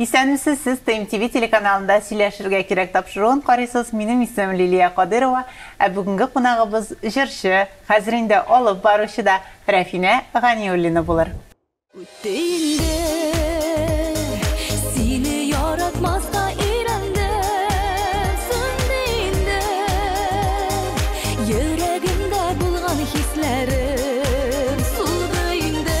Исәнмесез, сез Тем ТВ телеканалында Сөйләшергә кирәк тапшыруын карыйсыз, минем исемем Лилия Кадыйрова, ә бүгенге кунагыбыз җырчы, хәзер инде алып баручы да Рәфинә Ганиуллина булыр. Үтте инде, сине яратмаска өйрәндем, сүнде инде, йөрәгемдә булган хисләрем, сулды инде.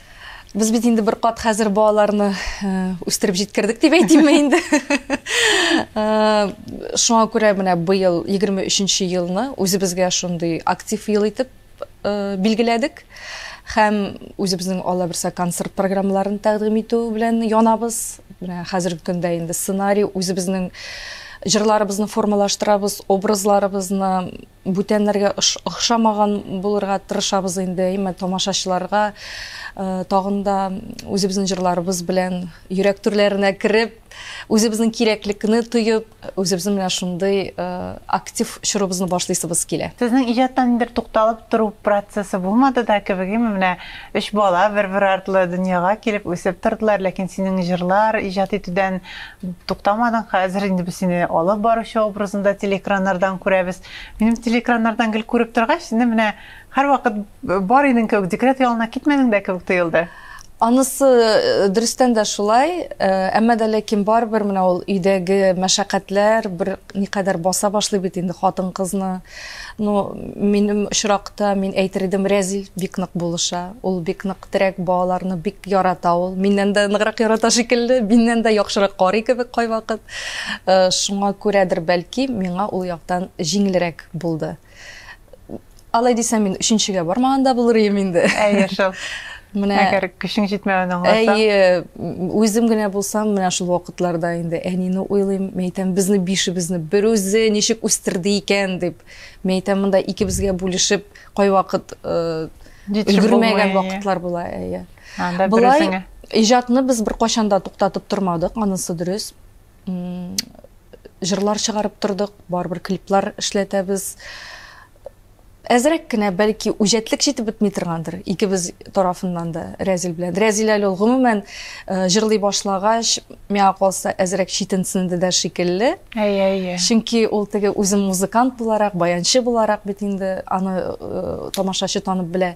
Без бит инде бер кат хәзер балаларны э, үстереп җиткердек дип әйтимме инде. Э, шуңа күрә менә быел 23-нче елны үзебезгә шундый актив ел итеп э, билгеләдек һәм үзебезнең алла берсә концерт программаларын тәкъдим итү белән янабыз. Менә хәзерге көндә инде сценарий үзебезнең җырларыбызны формалаштырабыз, образларыбызны Бүтәннәргә охшамаган булырга тырышабыз инде, әйме, тамашачыларга тагын да үзебезнең җырларыбыз белән йөрәк түрләренә кереп, үзебезнең кирәклекне тоеп, үзебезнең менә шундый актив чорыбызны башлыйсыбыз килә. Сезнең иҗатта ниндидер тукталып тору процессы булмады да кебек, әйме, менә өч бала бер-бер артлы дөньяга килеп, үсеп тордылар, ләкин синең җырлар иҗат итүдән Туктамадың, хәзер инде без сине алып баручы образында телеэкраннардан күрәбез. Минем телеэкраннардан гел күреп торгач, инде менә һәрвакыт бар идең кебек, декрет ялына китмәдең дә кебек тоелды. Анысы э, дөрестән дә шулай, э, әмма дә ләкин барыбер менә ул өйдәге мәшәкатьләр бер никадәр баса башлый бит инде хатын-кызны. Ну, минем очракта мин әйтер идем, Рәзил бик нык булыша. Ул бик нык Терәк балаларны бик ярата ул. Миннән дә ныграк ярата шикелле, миннән дә яхшырак карый кебек кайвакыт. Шуңа күрәдер бәлки, миңа ул яктан җиңелрәк булды. Алай дисәм, мин өченчегә бармаган да булыр идем инде. Әйе шул. Менә Әгәр көчең җитмәвен аңласаң. Әйе, үзем генә булсам, менә шул вакытларда инде әнине уйлыйм, мәйтәм, безне бишебезне бер үзе ничек үстерде икән дип. Мәйтәм, монда икебезгә бүлешеп, кайвакыт өлгермәгән вакытлар була әйе болай иҗатны без беркайчан да туктатып тормадык анысы дөрес җырлар чыгарып тордык барыбер клиплар эшләтәбез әзрәк кенә бәлки үҗәтлек җитеп бетми торгандыр икебез тарафыннан да рәзил белән рәзил әле ул гомумән э, җырлый башлагач Миңа калса, әзрәк читенсенде дә шикелле. Әйе, әйе. Чөнки ул теге үзе музыкант буларак, баянчы буларак бит инде аны э, тамашачы танып белә.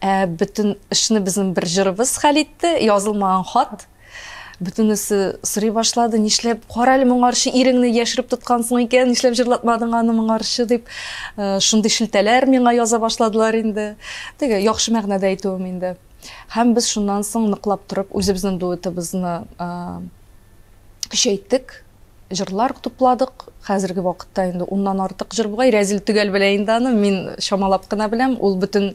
Ә бөтен эшне безнең бер җырыбыз хәл итте, язылмаган хат. Бөтенесе сорый башлады, нишләп кара әле моңарчы иреңне яшереп тоткансың икән, нишләп җырлатмадың аны моңарчы дип, э, шундый шелтәләр миңа яза башладылар инде. Теге яхшы мәгънәдә әйтүем инде. Һәм без шуннан соң ныклап торып үзебезнең дуэтыбызны көчәйттек, җырлар тупладык. Хәзерге вакытта инде уннан артык җыр бугай. Рәзил төгәл белә инде аны, мин чамалап кына беләм. Ул бөтен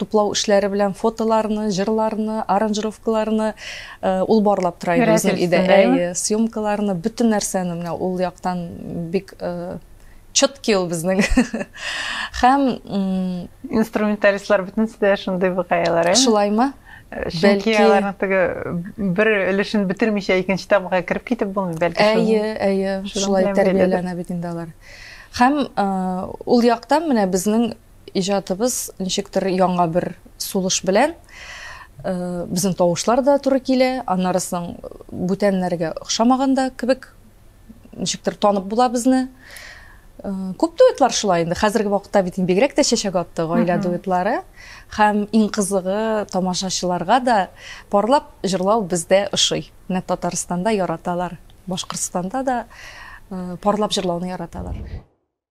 туплау эшләре белән фотоларны, җырларны, аранжировкаларны э, ул барлап тора иде үзенең идея, съемкаларны, бөтен нәрсәне менә ул яктан бик э, чёткий ул безнең һәм инструменталистлар бөтенесе дә шундый букаялар ә шулаймы чөнки аларның теге бер өлешен бетермичә икенче тамга кереп китеп булмый бәлки әйе әйе шулай тәрбияләнә бит инде алар һәм ул яктан менә безнең иҗатыбыз ничектер яңа бер сулыш белән безнең тавышлар да туры килә аннары соң бүтәннәргә охшамаганда кебек ничектер танып була безне. Э, күп дуэтлар шулай инде. Хәзерге вакытта бит бигрәк тә чәчәк атты гаилә дуэтлары. Һәм иң кызыгы тамашачыларга да парлап җырлау бездә ошый. Менә Татарстанда яраталар. Башкортстанда да э, парлап җырлауны яраталар.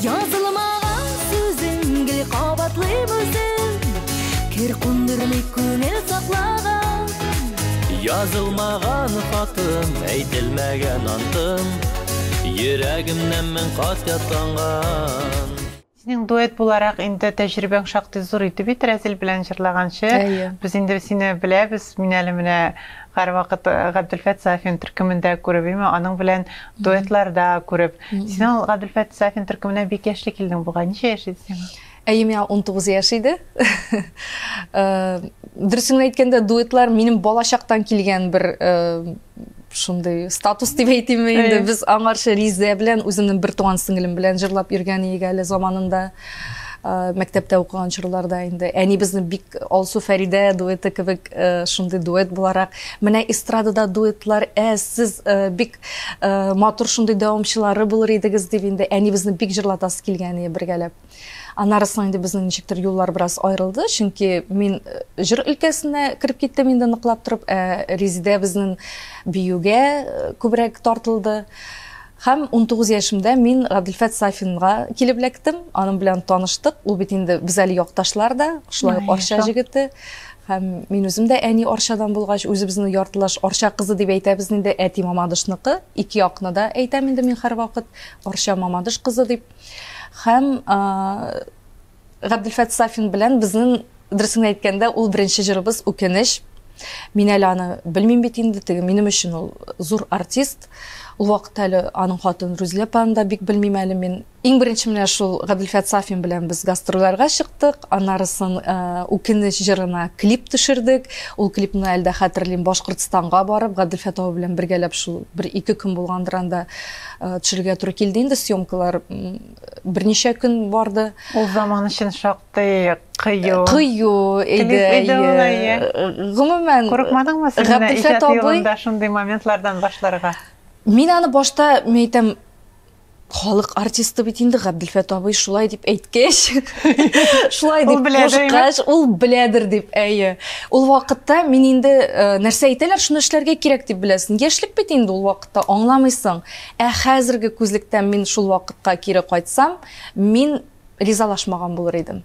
Язылмаган сүзең гел кабатлыйм үзем Кер кундырмый күңел саклаган Язылмаган хатым, әйтелмәгән антым Йөрәгемнән мең кат ятланган Синең дуэт буларак инде тәҗрибәң шактый зур иде бит Рәзил белән җырлаганчы. Без инде сине беләбез. Мин әле менә һәрвакыт Габделфәт Сафин төркемендә күреп, имә аның белән дуэтларда күреп. Син ул Гаделфәт Сафин төркеменә бик яшьли килдең бугай. Ничә яшь иде сиңа? Әйе, миңа 19 яшь иде. Дөресен әйткәндә, дуэтлар минем балачактан килгән бер шундый статус дип әйтимме инде. Без аңарчы Ризә белән үземнең бер туган сеңлем белән җырлап йөргән идек әле заманында. Э, мәктәптә укыган чорларда инде әнибезнең бик алсу фәридә дуэты кебек э, шундый дуэт буларак менә эстрадада дуэтлар әз сез э, бик матур шундый дәвамчылары булыр идегез дип инде әнибезне бик җырлатасы килгән иде бергәләп аннары соң инде безнең ничектер юллар бераз аерылды чөнки мин җыр өлкәсенә кереп киттем инде ныклап торып ә резидә безнең биюгә күбрәк тартылды Хәм 19 яшемдә мин Гадилфәт Сафинга килеп эләктем. Аның белән таныштык. Ул бит инде без әле якташлар да, шулай ук Арча җегете. Һәм мин үзем дә әни Арчадан булгач, үзебезне яртылаш Арча кызы дип әйтәбез инде, әти Мамадышныкы, ике якны да әйтәм инде мин һәрвакыт Арча Мамадыш кызы дип. Һәм Габделфәт Сафин белән безнең дөресен әйткәндә, ул беренче җырыбыз Үкенеч. Мин әле аны белмим бит инде, теге минем өчен ул зур артист. Ул вакытта әле аның хатын Рүзилә апаны да бик белмим әле мин. Иң беренче менә шул Гаделфят Сафин белән без гастрольләргә чыктык. Аннарысын Үкенеч җырына клип төшердек. Ул клипны әле дә хәтерлим. Башкортстанга барып, Гаделфят абый белән бергәләп шул бер ике көн булгандыр анда төшерергә туры килде инде. Съемкалар берничә көн барды. Ул заман өчен шактый кыю. Кыю иде. Гомумән, курыкмадыңмы син Гаделфят абый? Шундый моментлардан башларга. Мин аны башта, мин әйтәм, Халык артисты бит инде Габделфәт абый шулай дип әйткәч, шулай дип кушкач, ул беләдер дип, әйе. Ул вакытта мин инде э, нәрсә әйтәләр, шуны эшләргә кирәк дип беләсең. Яшьлек бит инде ул вакытта аңламыйсың. Ә хәзерге күзлектән мин шул вакытка кире кайтсам, мин ризалашмаган булыр идем.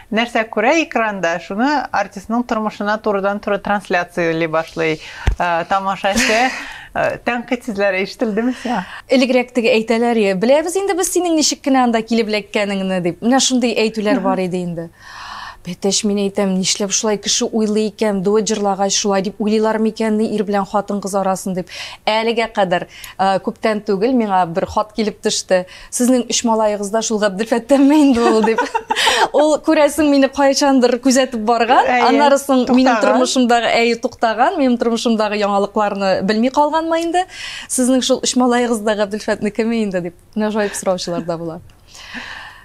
Нәрсә күрә экранда, шуны артистның тормышына турыдан-туры трансляцияли башлый тамашачы. Тәнкыйть сүзләре ишетелдеме сиңа? Элегрәк теге әйтәләр иде, беләбез инде без синең ничек кенә анда килеп эләккәнеңне дип. Менә шундый әйтүләр бар иде инде. Бәтәч, мин әйтәм, нишләп шулай кеше уйлый икән, дуэт җырлагач шулай дип уйлыйлар микәнни ир белән хатын-кыз арасын дип. Әлегә кадәр күптән түгел миңа бер хат килеп төште. Сезнең өч малаегыз да шул Габделфәттәнме инде ул дип. Ул күрәсең мине кайчандыр күзәтеп барган. Әйе, Аннары соң минем туктаган. тормышымдагы әй туктаган, минем тормышымдагы яңалыкларны белми калганмы инде? Сезнең шул өч малаегыз да Габделфәтнекеме инде дип нәжаеп сораучылар да була.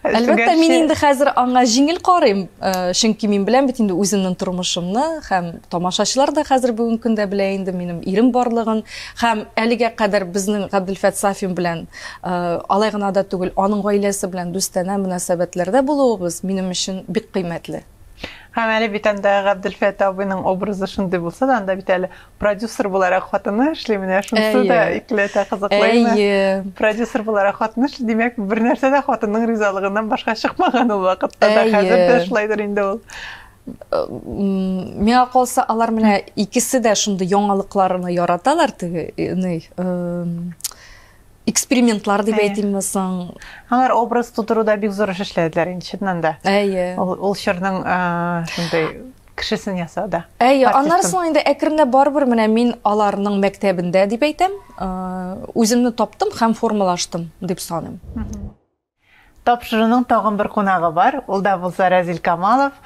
Әлбәттә, мин Гәрчә- инде хәзер аңа җиңел карыйм, э, чөнки мин беләм бит инде үземнең тормышымны һәм тамашачылар да хәзер бүгенге көндә белә инде минем ирем барлыгын һәм әлегә кадәр безнең Габделфәт Сафин белән Алай гына да түгел, аның гаиләсе белән дустанә мөнәсәбәтләрдә булуыбыз минем өчен бик кыйммәтле. Һәм әле бит анда Габделфәт абыйның образы шундый булса да, анда бит әле продюсер буларак хатыны эшли, менә шунысы да икеләтә кызыклы иде. Әйе. Продюсер буларак хатыны эшли, димәк, бернәрсә дә хатынның ризалыгыннан башка чыкмаган ул вакытта да, хәзер дә шулайдыр инде ул. Миңа калса, алар менә икесе дә шундый яңалыкларны яраталар, теге, ни, экспериментлар дип әйтимме соң алар образ тудыруда бик зур эш эшләделәр инде чыннан да әйе ул чорның шундай кешесен ясады әйе аннары соң инде әкренләп барыбер менә мин аларның мәктәбендә дип әйтәм үземне таптым һәм формалаштым дип саныйм Тапшыруның тагын бер кунагы бар, ул да булса Рәзил Камалов,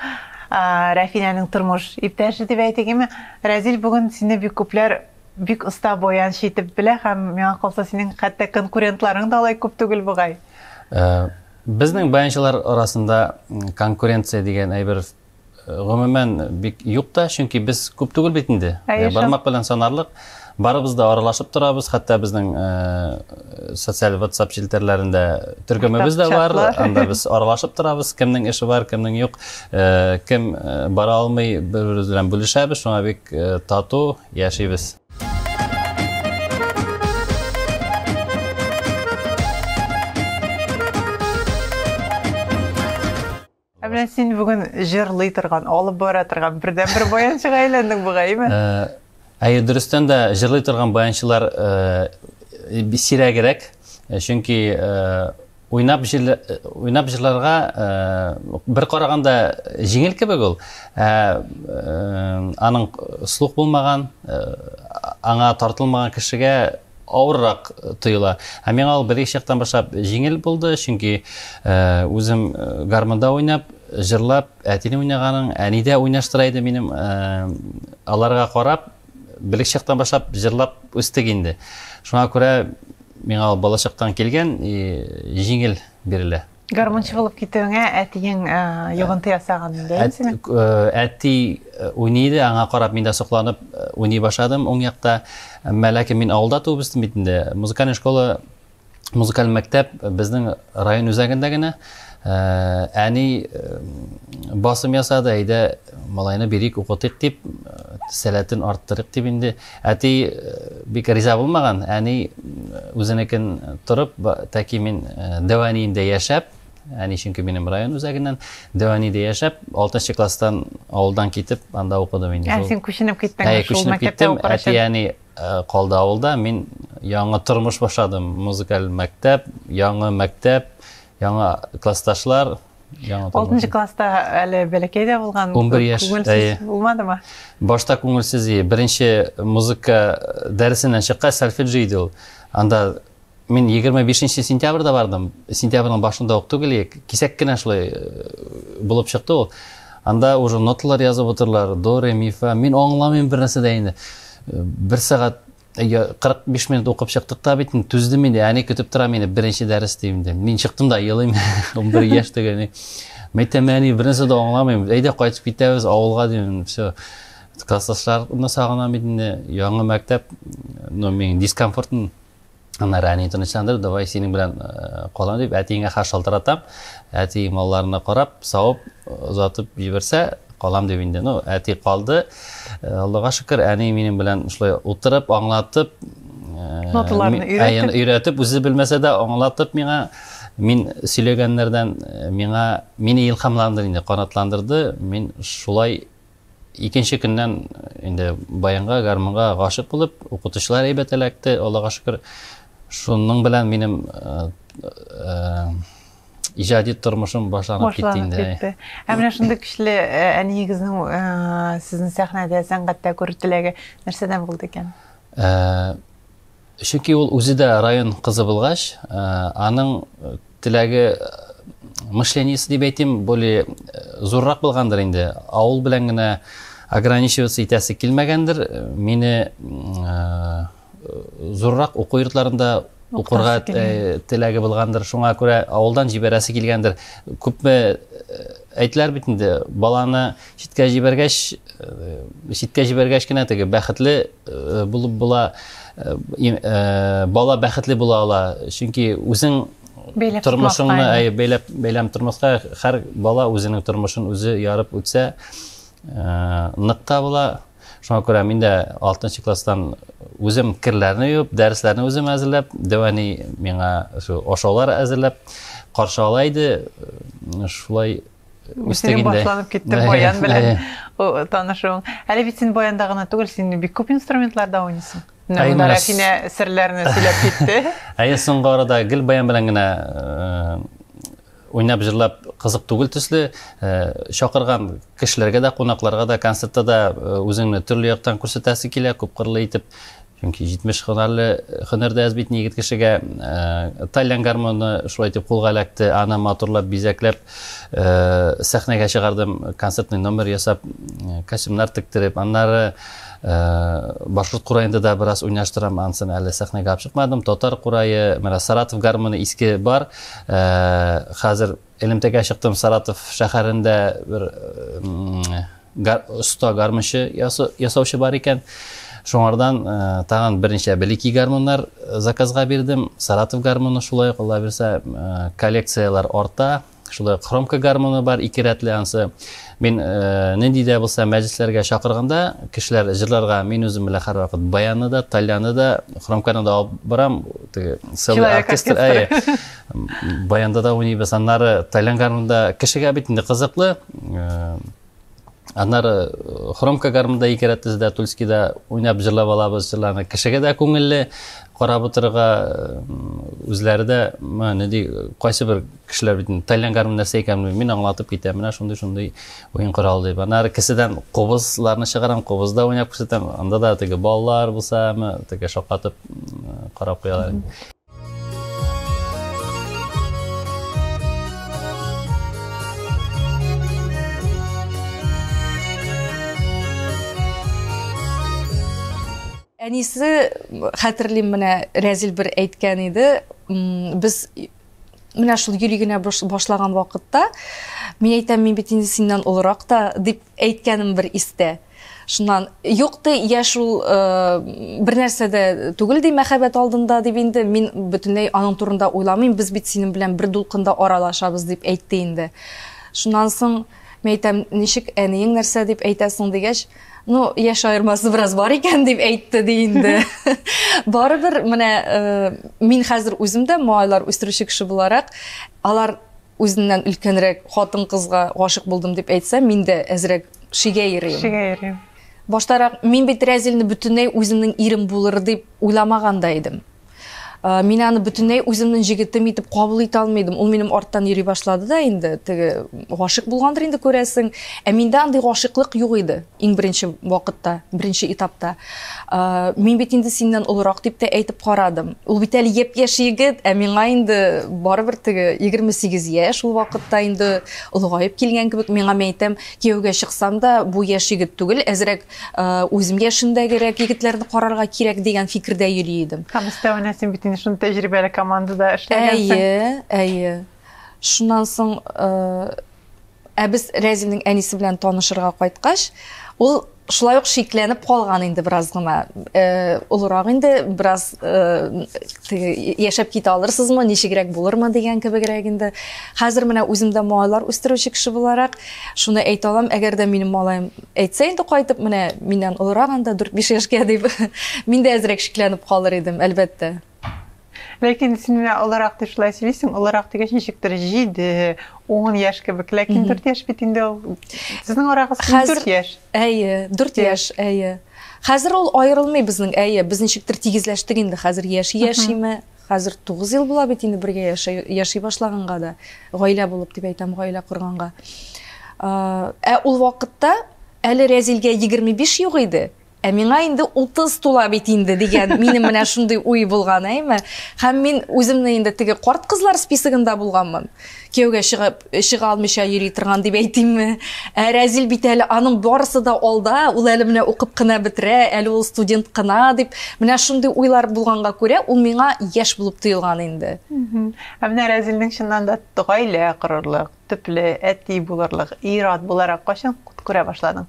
Рәфинәнең тормыш иптәше дип әйтегеме. Рәзил, бүген сине бик күпләр бик оста боянчы итеп белә һәм миңа калса синең хәтта конкурентларың да алай күп түгел бугай. Безнең баянчылар арасында конкуренция дигән әйбер гомумән бик юк та, чөнки без күп түгел бит инде. Ә, бармак белән санарлык. Барыбыз да аралашып торабыз, хәтта безнең ә, социаль WhatsApp челтәрләрендә төркемебез дә бар. Анда без аралашып торабыз, кемнең эше бар, кемнең юк, ә, кем ә, бара алмый, бер-беребез белән бүлешәбез, шуңа бик ә, тату яшибез. Ә менә син бүген җырлый торган, алып бара торган бердәнбер баянчыга әйләндең бугаймы? Ә, әйе, дөрестән дә җырлый торган баянчылар ә, сирәгрәк, э, чөнки ә, уйнап җыр уйнап җырларга ә, бер караганда җиңел кебек ул. Ә, ә, аның слух булмаган, ә, аңа тартылмаган кешегә авыррак тоела. Ә миңа ул беренче яктан башлап җиңел булды, чөнки үзем гармонда уйнап, җырлап, әтине уйнаганың, әни дә уйнаштыра иде минем, аларга карап, беренче яктан башлап җырлап үстек инде. Шуңа күрә миңа ул балачактан килгән, җиңел бирелә. Гармунчы булып китүеңә әтиең йогынты ясаган инде. Әти уйный иде, аңа карап мин дә сокланып уйный башладым уң якта. Әмма ләкин мин авылда туып үстем бит инде. Музыкаль школа, музыкаль мәктәп безнең район үзәгендә генә. Әни басым ясады, әйдә малайны бирик, укытыйк дип, сәләтен арттырыйк дип инде. Әти бик риза булмаган, әни үзенекен торып, тәки мин Дәвәниендә яшәп, әни чөнки минем район үзәгеннән, Дәвәниедә яшәп, 6 нчы класстан авылдан китеп, анда укыдым инде. Ә син күченеп киттең шул күченеп киттем, әти әни калды авылда, мин яңа тормыш башладым, музыкаль мәктәп, яңа мәктәп, яңа классташлар, Яңа таба. Алтынчы класста әле бәләкәй дә булган. Унбер яшь, әйе. Булмадымы? Башта күңелсез иде. Беренче музыка дәресеннән чыккач, сольфеджи иде ул. Анда мин 25 сентябрьдә бардым. Сентябрьнең башында ук түгел, кисәк кенә шулай э, булып чыкты ул. Анда уже ноталар язып утырлар, до, ре, ми, фа. Мин аңламыйм бер нәрсә дә инде. Э, бер сәгать Әйе, 45 минут укып чыктык та бит, түздем инде, әни көтеп тора мине, беренче дәрес дим инде. Мин чыктым да елыйм, 11 яшь түгел. Мәйтәм, әни, беренче дә аңламыйм, әйдә кайтып китәбез авылга дим, все. Класслашларны сагынам бит инде, яңа мәктәп, ну, мин дискомфортын Аннар әни тынычландырып, давай синең белән э, калам дип, әтиеңә хат шалтыратам. Әти малларына карап, савып, озатып җибәрсә, Калам дип инде, ну, әти калды. Э, Аллага шөкер, әни минем белән шулай утырып, аңлатып, э, ноталарны өйрәтеп, өйрәтеп, үзе белмәсә дә аңлатып миңа мин сөйләгәннәрдән э, миңа мине илһамландырды инде, канатландырды. Мин шулай икенче көннән инде баянга, гармунга гашык булып, укытучылар әйбәт эләкте, Аллага шөкер. Шуның белән минем иҗади тормышым башланып китте инде. Башланып китте. Ә менә шундый көчле э, әниегезнең э, сезнең сәхнәдә, сәнгатьтә күрер теләге нәрсәдән булды икән? Э, чөнки ул үзе дә район кызы булгач, аның теләге мышлениесе дип әйтим, более зуррак булгандыр инде. Авыл белән генә ограничиваться итәсе килмәгәндер. Мине зуррак уку йортларында укырга э, теләге булгандыр шуңа күрә авылдан җибәрәсе килгәндер күпме э, әйтеләр бит инде баланы читкә җибәргәч э, читкә җибәргәч кенә теге бәхетле булып була бала бәхетле була ала чөнки үзең тормышыңны әй бәйләп бәйләм тормышка һәр бала үзенең тормышын үзе ярып үтсә нык та була Шуңа күрә мин дә 6 класстан үзем керләрне юып, дәресләрне үзем әзерләп, дәвәни миңа шу ашаулар әзерләп каршы ала иде. Шулай үстек инде. башланып китте баян белән танышуың. Әле бит син баянда гына түгел, син бик күп инструментларда уйныйсың. Менә Рәфинә серләрне сөйләп китте. Әйе, соңгы арада гел баян белән генә уйнап җырлап кызык түгел төсле э, чакырган кешеләргә дә кунакларга да концертта да э, үзеңне төрле яктан күрсәтәсе килә күпкырлы итеп чөнки җитмеш һөнәрле һөнәрдә әз бит егет кешегә э, тальян гармоны шулай итеп кулга эләкте аны матурлап бизәкләп сәхнәгә чыгардым концертный номер ясап костюмнар тектереп аннары Э, башкорт кураенда да бераз уйнаштырам анысын әле сәхнәгә алып чыкмадым татар курае менә саратов гармоны иске бар Ә, хәзер элемтәгә чыктым Саратов шәһәрендә бер гар, оста гармончы ясаучы бар икән. Шуңардан ә, тагын берничә белики гармоннар заказга бирдем. Саратов гармоны шулай ук Алла бирсә, ә, коллекцияләр арта. Шулай хромка гармоны бар ике рәтле ансы. Мин нинди дә булса мәҗлесләргә чакырганда, кешеләр җырларга мин үзем белән һәрвакыт баянны да, тальяны да, хромканы да алып барам. Теге сәү оркестр әйе. Баянда да уйнабыз. Аннары тальян гармунда кешегә бит инде кызыклы. Аннары хромка гармунда ике рәттез дә Тульскида уйнап җырлап алабыз җырларны. Кешегә дә күңелле, карап утырырга үзләре дә, нинди кайсы бер Кешеләр бит инде тайлянгармы, нәрсә икәнен белми, мин аңлатып китәм, менә шундый-шундый уен коралы дип. Аннары кесәдән кубызларны чыгарам, кубызда уйнап күрсәтәм, анда да теге балалар булса, ме, теге шаккатып карап куялар. Әнисе, хәтерлим, менә Рәзил бер әйткән иде, без менә шул йөри генә башлаган вакытта мин әйтәм мин бит инде синнән олырак та дип әйткәнем бер истә шуннан юк ты я шул э, бер нәрсә дә түгел ди мәхәббәт алдында дип инде мин бөтенләй аның турында уйламыйм без бит синең белән бер дулкында аралашабыз дип әйтте инде шуннан соң мен әйтәм ничек әниең нәрсә дип әйтәсең дигәч ну яшь аермасы бераз бар икән дип әйтте ди инде барыбер менә э, мин хәзер үзем дә малайлар үстерүче кеше буларак алар үзеннән өлкәнрәк хатын кызга гашык булдым дип әйтсә мин дә әзрәк шигә йөрим шигә йөрим баштарак мин бит рәзилне бөтенләй үземнең ирем булыр дип уйламаган да идем Э, мин аны бөтенләй үземнең җегетем итеп кабул итә алмыйдым ул минем арттан йөри башлады да инде теге гашык булгандыр инде күрәсең ә миндә андый гашыклык юк иде иң беренче вакытта беренче этапта э, мин бит инде синнән олырак дип тә әйтеп карадым ул бит әле япь яшь егет ә миңа инде барыбер теге егерме сигез яшь ул вакытта инде олыгаеп килгән кебек миңа мен әйтәм кияүгә чыксам да бу яшь егет түгел әзрәк Үзем яшендәгерәк егетләрне карарга кирәк дигән фикердә йөри идем. Һәм өстәвенә син бит инде шундый тәҗрибәле командада эшләгәнсең. Әйе, әйе. Шуннан соң ә без Рәзилнең әнисе белән танышырга кайткач, ул шулай ук шикләнеп калган инде бераз гына. Э, олырак инде бераз э, яшәп китә алырсызмы, ничегрәк булырмы дигән кебегрәк инде. Хәзер менә үзем дә малайлар үстерүче кеше буларак шуны әйтә алам, әгәр дә минем малаем Әйтсә инде кайтып, менә миннән олырак анда, дүрт-биш яшькә, дип, мин дә әзрәк шикләнеп калыр идем, әлбәттә. Ләкин син менә олырак дип шулай сөйлисең, олырак дигәч, ничектер җиде, ун яшь кебек, ләкин дүрт яшь бит инде ул. Сезнең арагыз дүрт яшь. Әйе, дүрт яшь, әйе. Хәзер ул аерылмый безнең, әйе, без ничектер тигезләштек инде хәзер, яши-яшиме, Хәзер тугыз ел була бит инде бергә яшәй, яши башлаганга да, гаилә булып дип әйтәм, гаилә корганга. Ә ул вакытта әле Рәзилгә 25 юк иде, ә миңа инде 30 тула бит инде дигән минем менә шундый уй булган, әйме? Һәм мин үземне инде теге карт кызлар списогында булганмын. Кияүгә чыгып, чыга алмыйча йөри торган дип әйтимме ә рәзил бит әле аның барысы да алда ул әле менә укып кына бетерә әле ул студент кына дип менә шундый уйлар булганга күрә ул миңа яшь булып тоелган инде ә менә рәзилнең чыннан да гаилә корырлык төпле әти булырлык ир-ат буларак кайчан күрә башладың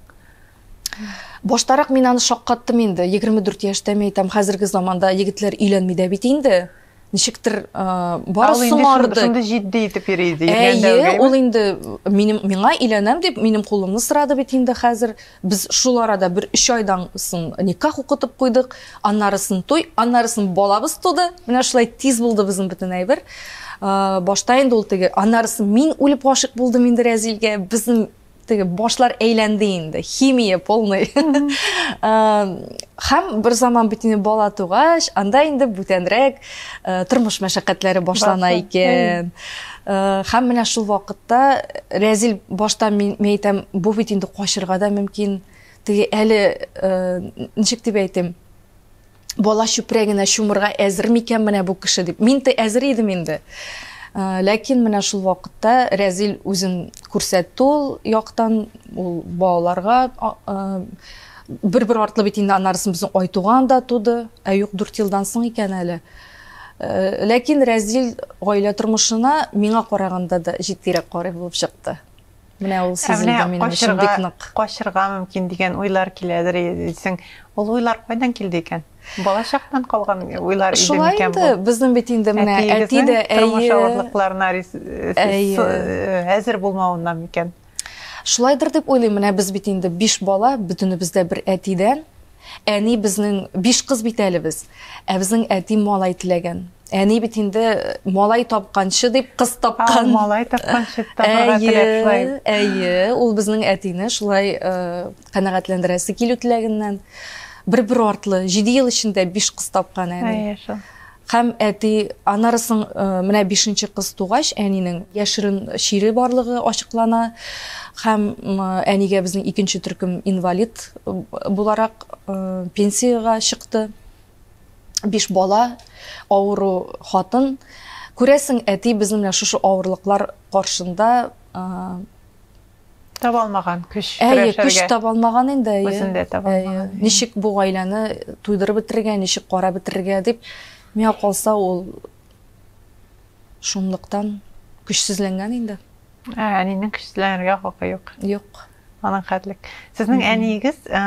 баштарак мин аны шаккаттым инде егерме дүрт яшьтәме әйтәм хәзерге заманда егетләр өйләнми дә бит инде ничектер бары соңарды. Шундый җитди итеп йөри иде. Әйе, ул инде минем миңа иләнәм дип минем кулымны сорады бит инде хәзер. Без шул арада бер 3 айдан соң никах укытып куйдык, аннарысын туй, аннарысын балабыз туды. Менә шулай тиз булды безнең бөтен әйбер. Башта инде ул теге, аннарысын мин үлеп гашык булдым инде Рәзилгә. Безнең теге башлар әйләнде инде химия полный һәм бер заман бит инде бала тугач анда инде бүтәнрәк тормыш мәшәкатьләре башлана икән һәм менә шул вакытта рәзил башта мин әйтәм бу бит инде качырга да мөмкин теге әле ничек дип әйтим бала чүпрәгенә чумырга әзер микән менә бу кеше дип. Мин тә әзер идем инде. Э, ләкин менә шул вакытта Рәзил үзен күрсәтте ул яктан, ул балаларга э, бер-бер артлы бит инде аннарысын безнең Айтуган да туды, ә юк 4 елдан соң икән әле. Э, ләкин Рәзил гаилә тормышына миңа караганда да җитдирәк карый булып чыкты. Менә ул сезгә минем өчен бик нык. Качырга мөмкин дигән уйлар киләдер дисең. Ул уйлар кайдан килде икән? Бала чактан калган уйлар иде микән бу? Шулай инде, безнең бит инде менә әти дә әйе. Тормыш авырлыкларына әзер булмавыннан микән? Шулайдыр дип уйлыйм, менә без бит инде биш бала, бөтенебез дә бер әтидән, Әни безнең биш кыз бит әле без. Ә безнең әти малай теләгән. Әни бит инде малай тапканчы дип кыз тапкан. А, малай тапканчы табарга теләп шулай. Әйе, ул безнең әтине шулай э, канәгатьләндерәсе килү теләгеннән бер-бер артлы 7 ел эчендә биш кыз тапкан әни. Әйе, шул. Һәм әти Анарысың менә бишенче кыз тугач, әнинең яшерен чире барлыгы ачыклана. Һәм әнигә безнең икенче төркем инвалид буларак пенсиягә чыкты. Биш бала, авыру хатын. Күрәсең, әти безнең менә шушы авырлыклар каршында Таба алмаган көч Әйе, көч таба алмаган инде, әйе. Үзен дә таба алмаган. Ничек бу гаиләне туйдырып бетерергә, ничек карап бетерергә дип миңа калса ул шунлыктан көчсезләнгән инде. Ә, әнинең көчсезләнергә хакы юк. Юк. Аның хәтлек. Сезнең әниегез э,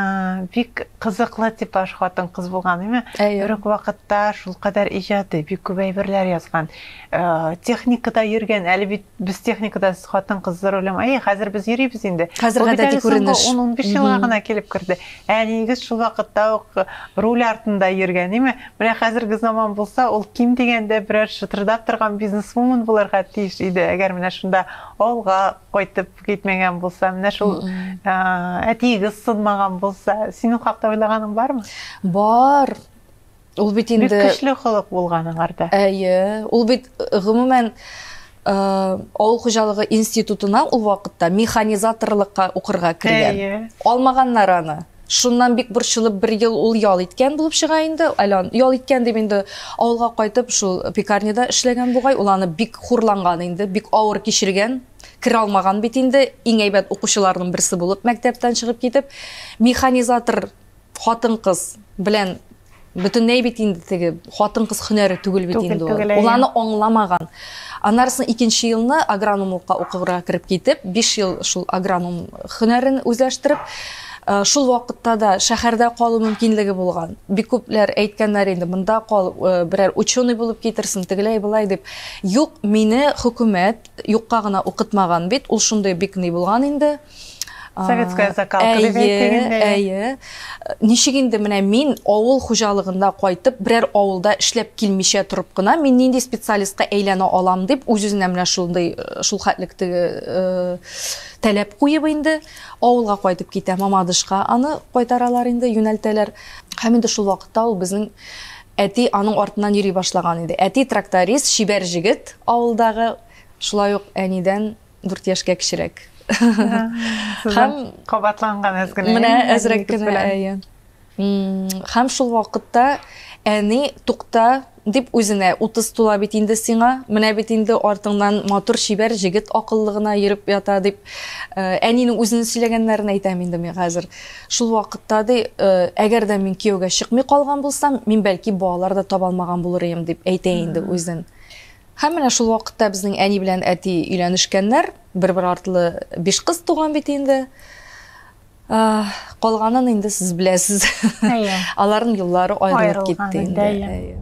бик кызыклы типаж хатын кыз булган, әйме? Бер үк вакытта шул кадәр иҗади, бик күп әйберләр язган. Э, техникада йөргән, әле бит без техникада сез хатын кыз за рулем әйе хәзер без йөрибез инде хәзер гадәти күренеш он он биш елга гына килеп керде әниегез шул вакытта ук руль артында йөргән име менә хәзерге заман булса ул ким дигәндә берәр шытырдап торган бизнесвумен булырга тиеш иде әгәр менә шунда авылга кайтып китмәгән булса менә шул әтиегез сынмаган булса синең хакта уйлаганың бармы бар Ул бит инде Бик көчле холык булган аңарда. Әйе, ул бит э, гомумән э, авыл хуҗалыгы институтына ул вакытта механизаторлыкка укырга кергән. Әйе. Алмаганнар аны. Шуннан бик борчылып бер ел ул ял иткән булып чыга инде. Әле ял иткән дип инде авылга кайтып шул пекарняда эшләгән бугай. Ул аны бик хурланган инде, бик авыр кичергән керә алмаган бит инде иң әйбәт укучыларның берсе булып мәктәптән чыгып китеп механизатор Хатын-кыз белән бөтенләй бит инде теге хатын-кыз һөнәре түгел бит инде ул. Ул аны аңламаган. Аннарысын икенче елны агрономлыкка укырга кереп китеп, 5 ел шул агроном һөнәрен үзләштереп, Э, шул вакытта да шәһәрдә калу мөмкинлеге булган бик күпләр әйткәннәр инде монда кал э, берәр ученый булып китерсен тегеләй былай дип юк мине хөкүмәт юкка гына укытмаган бит ул шундый бик ни булган инде Советская закалка дип әйтегендә. Әйе. Ничек инде менә мин авыл хуҗалыгында кайтып, берәр авылда эшләп килмичә торып кына, мин нинди специалистка әйләнә алам дип, үз-үзенә менә шундый э, шул хәтлек теге э, таләп куеп инде авылга кайтып китә. Мамадышка аны кайтаралар инде, юнәлтәләр. Һәм инде шул вакытта ул безнең әти аның артыннан йөри башлаган иде. Әти тракторист, шибәр җегет авылдагы, шулай ук әнидән дүрт яшькә кечерәк һәм кабатланган әз генә менә әзрәк кенә әйе һәм шул вакытта әни тукта дип үзенә утыз тула бит инде сиңа менә бит инде артыңнан матур чибәр җегет акыллы гына йөреп ята дип э, әнинең үзенең сөйләгәннәрен әйтәм инде мин хәзер шул вакытта ди э, әгәр дә мин кияүгә чыкмый калган булсам мин бәлки балалар да таба алмаган булыр идем дип әйтә инде үзен Һәм менә шул вакытта безнең әни белән әти өйләнешкәннәр, бер-бер артлы биш кыз туган бит инде. Калганын инде сез беләсез. Әйе. Аларның юллары аерылып китте инде.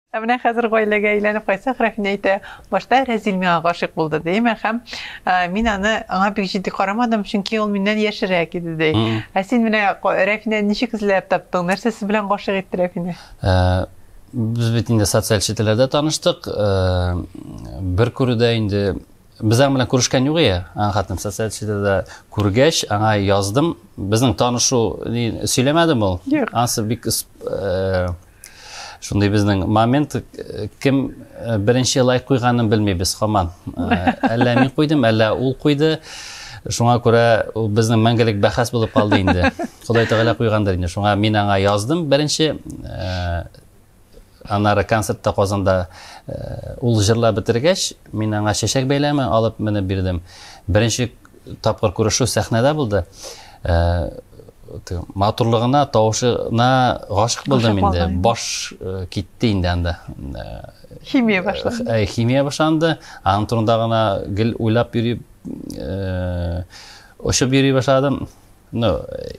Ә менә хәзер гаиләгә әйләнеп кайтсак, Рәфинә әйтә, башта Рәзил миңа гашыйк булды, ди, әмма һәм мин аны аңа бик җитди карамадым, чөнки ул миннән яшерәк иде, ди. Ә син менә Рәфинә ничек эзләп таптың? Нәрсә сез белән гашыйк итте Рәфинә? Без бит инде социаль челтәрләрдә таныштык. Бер күрүдә инде без аның белән күрешкән юк ия. Аң хатын социаль челтәдә күргәч, аңа яздым. Безнең танышу сөйләмәдем ул. Ансы бик Шундый безнең момент э, кем э, беренче лайк куйганын белмибез хаман. Э, әллә мин куйдым, әллә ул куйды. Шуңа күрә ул безнең мәңгелек бәхәс булып калды инде. Ходай Тәгалә куйгандыр инде. Шуңа мин аңа яздым беренче анары концертта Казанда ул җырлап бетергәч, мин аңа чәчәк бәйләме алып менеп бирдем. Беренче тапкыр күрешү сәхнәдә булды. Матурлыгына, тавышына гашык булдым инде. Баш китте инде анда. Химия башланды. Химия башланды. Аның турында гына гел уйлап йөри, очып йөри башладым. Ну,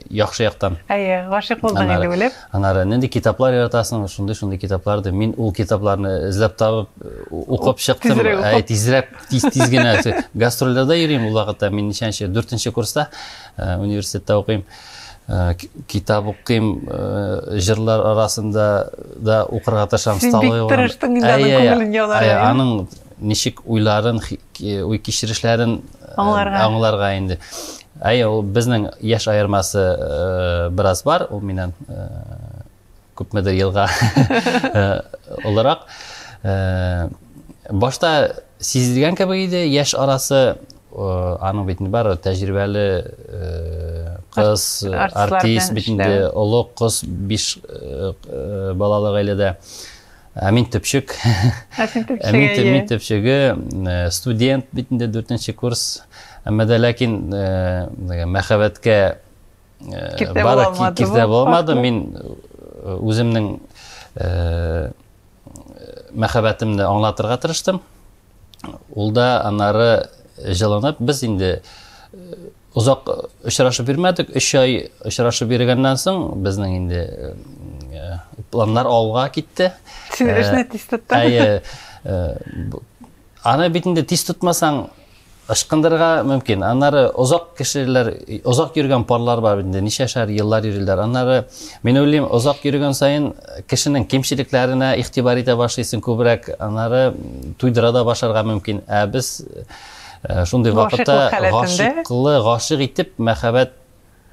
яхшы яктан. Әйе, гашык булдың инде белеп. Анары нинди китаплар яратасың? Шундый шундый китаплар ди. Мин ул китапларны эзләп табып, укып чыктым. Әй, тизрәк, тиз тиз генә. Гастрольдә йөрим ул вакытта. Мин ничәнче, 4 курста университетта укыйм. Э, китап укыйм э, җырлар арасында да укырга тырышам столовый син бик тырыштың инде аның күңелен яулар аның ничек уйларын, уй кичерешләрен аңларга. аңларга инде. Әйе, ул безнең яшь аермасы бераз бар, ул миннән күпмедер елга олырак. Башта сизелгән кебек иде, яшь арасы аның бит инде бар тәҗрибәле кыз, артист бит инде, олы кыз, биш балалы гаиләдә. Ә мин төпчек. Ә син төпчеге. Ә мин, әйе. мин төпчеге э, студент бит инде дүртенче курс. Әмма дә ләкин э, мәхәббәткә э, бары киртә булмады. Мин э, үземнең э, мәхәббәтемне аңлатырга тырыштым. Ул да аннары җылынып, без инде э, Озак очрашып йөрмәдек, өч ай очрашып йөргәннән соң, безнең инде планнар алга китте. Син эшне тиз тоттың. Әйе. Аны бит инде тиз тотмасаң, ышкындырырга мөмкин. Аннары озак кешеләр, озак йөргән парлар бар инде, ничәшәр еллар йөриләр. Аннары мин уйлыйм, озак йөргән саен кешенең кимчелекләренә игътибар итә башлыйсың күбрәк, аннары туйдыра да башарга мөмкин. Ә без Э, шундый вакытта гашыклы гашык итеп мәхәббәт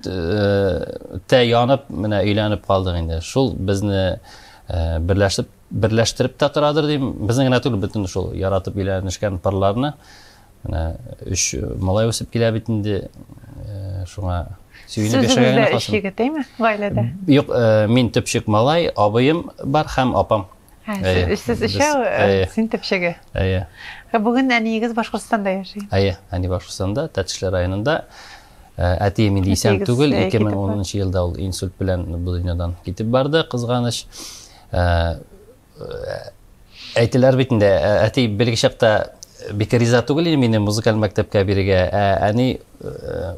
э, тә янып менә өйләнеп калдык инде шул безне э, берләшеп берләштереп тә торадыр дим безнең генә түгел бөтен шул яратып өйләнешкән парларны менә өч малай үсеп килә бит инде шуңа сөенеп яшәгән генә калсын гаиләдә юк мин төпчек малай абыем бар һәм апам Әйе. Сез өчәү, э, син төпчеге. Әйе. Ә бүген әниегез Башкортстанда яши. Әйе, әни Башкортстанда, Тәтешле районында. Э, әти инде исән түгел, 2010 елда ул инсульт белән бу дөньядан китеп барды, кызганыч. Э, әйтеләр бит инде, әти белгечәктә бик риза түгел иде мине музыкаль мәктәпкә бирергә. Ә әни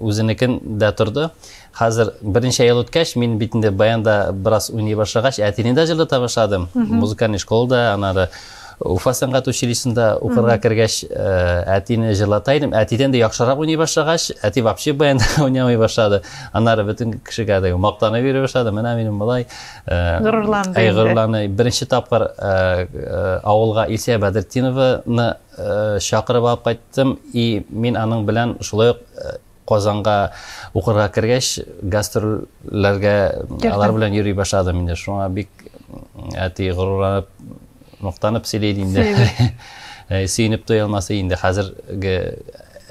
үзенекен дә торды. Хәзер берничә ел үткәч, мин бит инде баянда бераз уйный башлагач, әтине дә җырлата башладым. Музыкальный школада, анары Уфа сәнгать училищесында укырга кергәч, әтине җырлата идем. Әтидән дә яхшырак уйный башлагач, әти вообще баянда уйнамый башлады. Аннары бөтен кешегә дә мактана бирә башлады. Менә минем болай горурланды. Әй, горурланды. Беренче тапкыр авылга Илсә Бәдретдинованы Чакырып алып кайттым, и мин аның белән шулай ук Казанга укырга кергәч, гастрольләргә алар белән йөри башладым инде. Шуңа бик әти горурланып, мактанып сөйли инде. Сөенеп туя алмасы инде хәзерге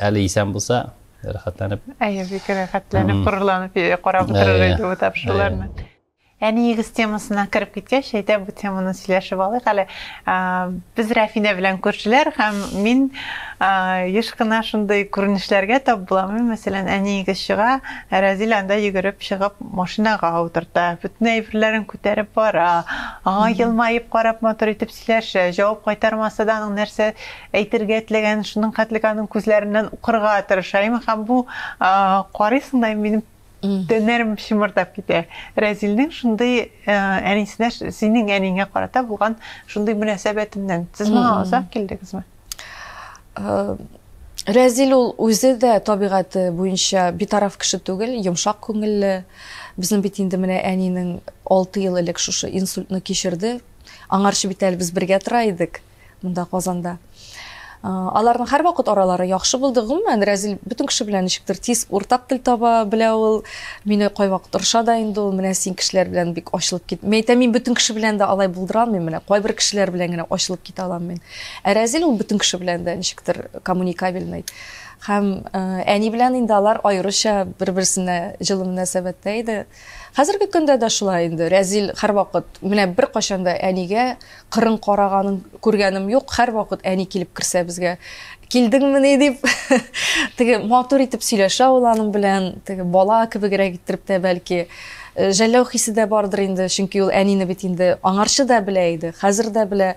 әле исән булса, рәхәтләнеп. Әйе, бик рәхәтләнеп, горурланып карап утырыр иде бу тапшыруларны. Әниегез темасына кереп киткәч, әйдә бу теманы сөйләшеп алыйк әле. Без Рәфинә белән күршеләр һәм мин еш кына шундый күренешләргә тап булам. Мәсәлән, әниегез чыга, ә Разил анда йөгереп чыгып машинага утырта, бөтен әйберләрен күтәреп бара, аңа елмаеп карап матур итеп сөйләшә, җавап кайтармаса да аның нәрсә әйтергә теләгәнен шуның хәтлек аның күзләреннән укырга тырыша. Һәм бу карыйсың да минем Тәннәрем чымырдап китә. Рәзилнең шундый әнисенә, синең әниңә карата булган шундый мөнәсәбәтеннән. Сез моңа озак килдегезме? Рәзил ул үзе дә табигате буенча битараф кеше түгел, йомшак күңелле. Безнең бит инде менә әнинең 6 ел элек шушы инсультны кичерде. Аңарчы бит әле без бергә тора идек. монда Казанда. Аларның һәрвакыт аралары яхшы булды. Гомумән, Рәзил бөтен кеше белән ничектер тиз уртак тел таба белә ул. Мине кайвакыт орыша да инде ул, менә син кешеләр белән бик ачылып кит. Мин әйтәм, мин бөтен кеше белән дә алай булдыра алмыйм, менә кайбер кешеләр белән генә ачылып китә алам мин. Ә Рәзил ул бөтен кеше белән дә ничектер коммуникабельный. Һәм әни белән инде алар аеруча бер-берсенә җылы мөнәсәбәттә иде. Хәзерге көндә дә шулай инде. Рәзил һәрвакыт, менә беркайчан да әнигә кырын караганын күргәнем юк һәрвакыт әни килеп керсә безгә килдеңмени дип теге матур итеп сөйләшә ул аның белән теге бала кебегрәк иттереп тә бәлки э, жәлләү хисе дә бардыр инде чөнки ул әнине бит инде аңарчы да белә иде хәзер дә белә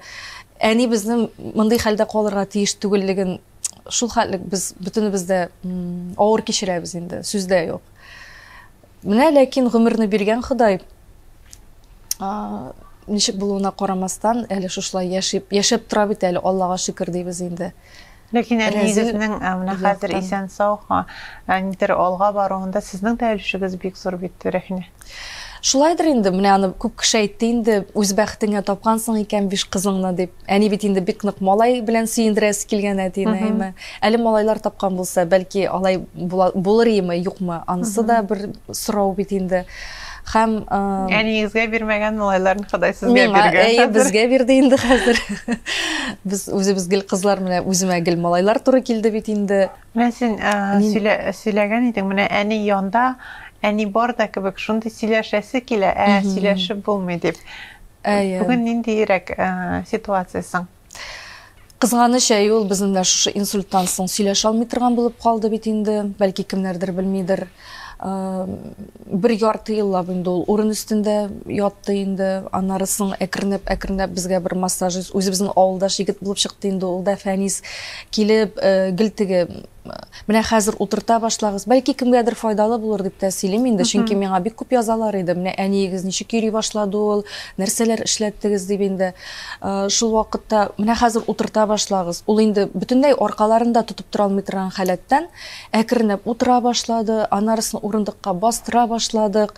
әни безнең мондый хәлдә калырга тиеш түгеллеген шул хәтлек без бөтенебез дә авыр кичерәбез инде сүз дә юк Менә ләкин гомерне биргән Ходай, ничек булуына карамастан, әле шушылай яшип, яшәп тора бит әле, Аллага шөкер дибез инде. Ләкин әле егетнең менә хәзер исән сау, нидер алга баруында сезнең дә өлешегез бик зур бит, Рәхинә. Шулайдыр инде, менә аны күп кеше әйтте инде, үз бәхетеңә тапкансың икән биш кызыңны дип. Әни бит инде бик нык малай белән сөендерәсе килгән әтине, әйме. Әле малайлар тапкан булса, бәлки алай булыр име, юкмы? Анысы да бер сорау бит инде. Хәм әниегезгә бирмәгән малайларын Ходай сезгә биргән. Әйе, безгә бирде инде хәзер. Без үзебез гел кызлар менә үземә гел малайлар туры килде бит инде. Менә син сөйләгән идең, менә әни янда, әни бар да кебек, шундый сөйләшәсе килә, ә сөйләшеп булмый дип. Бүген ниндиерәк ситуация соң? Кызганыч, әй, ул безнең дә шушы инсульттан соң сөйләшә алмый торган булып калды бит инде. Бәлки кемнәрдер белмидер. бер ярты еллап инде ул урын өстендә ятты инде аннары соң әкренләп әкренләп безгә бер массажист үзебезнең авылдаш егет булып чыкты инде ул да фәнис килеп э, гел теге менә хәзер утырта башлагыз бәлки кемгәдер файдалы булыр дип тә сөйлим инде чөнки миңа бик күп язалар иде менә әниегез ничек йөри башлады ул нәрсәләр эшләттегез дип инде э, шул вакытта менә хәзер утырта башлагыз ул инде бөтенләй аркаларын да тотып тора алмый торган халәттән Әкренләп утыра башлады, анарысын урындыкка бастыра башладык.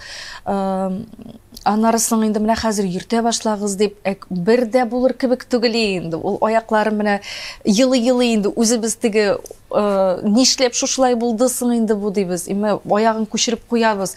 Анарысын инде менә хәзер йөртә башлагыз дип, бер дә булыр кебек түгел инде. Ул аяклары менә елый-елый инде үзебез теге нишләп шушылай булды соң инде бу дибез. Имә аягын күчереп куябыз.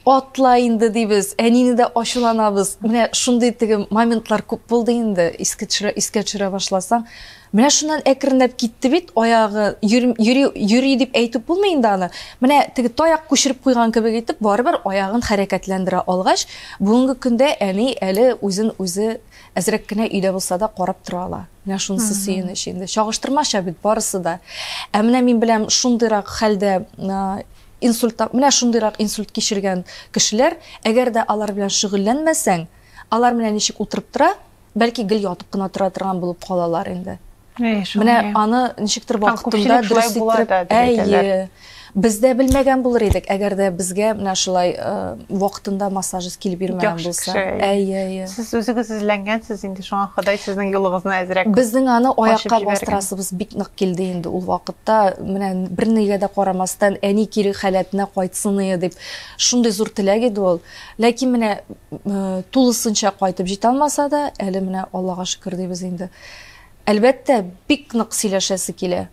Атла инде дибез. Әнине дә ачуланабыз. Менә шундый теге моментлар күп булды инде. Искә төшерә, искә төшерә башласаң, Менә шуннан әкренләп китте бит, аягы йөри, йөри, йөри дип әйтеп булмый инде аны. Менә теге таяк күчереп куйган кебек итеп, барыбер аягын хәрәкәтләндерә алгач, бүгенге көндә әни әле үзен үзе әзрәк кенә өйдә булса да карап тора ала. Менә шунысы сөенеч инде. Чагыштырмача бит барысы да. Ә менә мин беләм шундыйрак хәлдә инсульт, менә шундыйрак инсульт кичергән кешеләр, әгәр дә алар белән шөгыльләнмәсәң, алар менә ничек утырып тора, Бәлки гел ятып кына тора торган булып калалар инде. Менә аны ничектер вакытында дөрес иттереп, әйе. Без дә белмәгән булыр идек, әгәр дә безгә менә шулай вакытында массажист килеп йөрмәгән булса. Әйе, әйе. Сез үзегез эзләнгәнсез инде, шуңа Ходай сезнең юлыгызны әзрәк. Безнең аны аякка бастырасыбыз бик нык килде инде ул вакытта. Менә бернигә дә карамастан, әни кире халәтенә кайтсын иде дип, шундый зур теләк иде ул. Ләкин менә тулысынча кайтып җитә алмаса да, әле менә Аллага шөкер дибез инде. Әлбәттә, бик нык сөйләшәсе килә.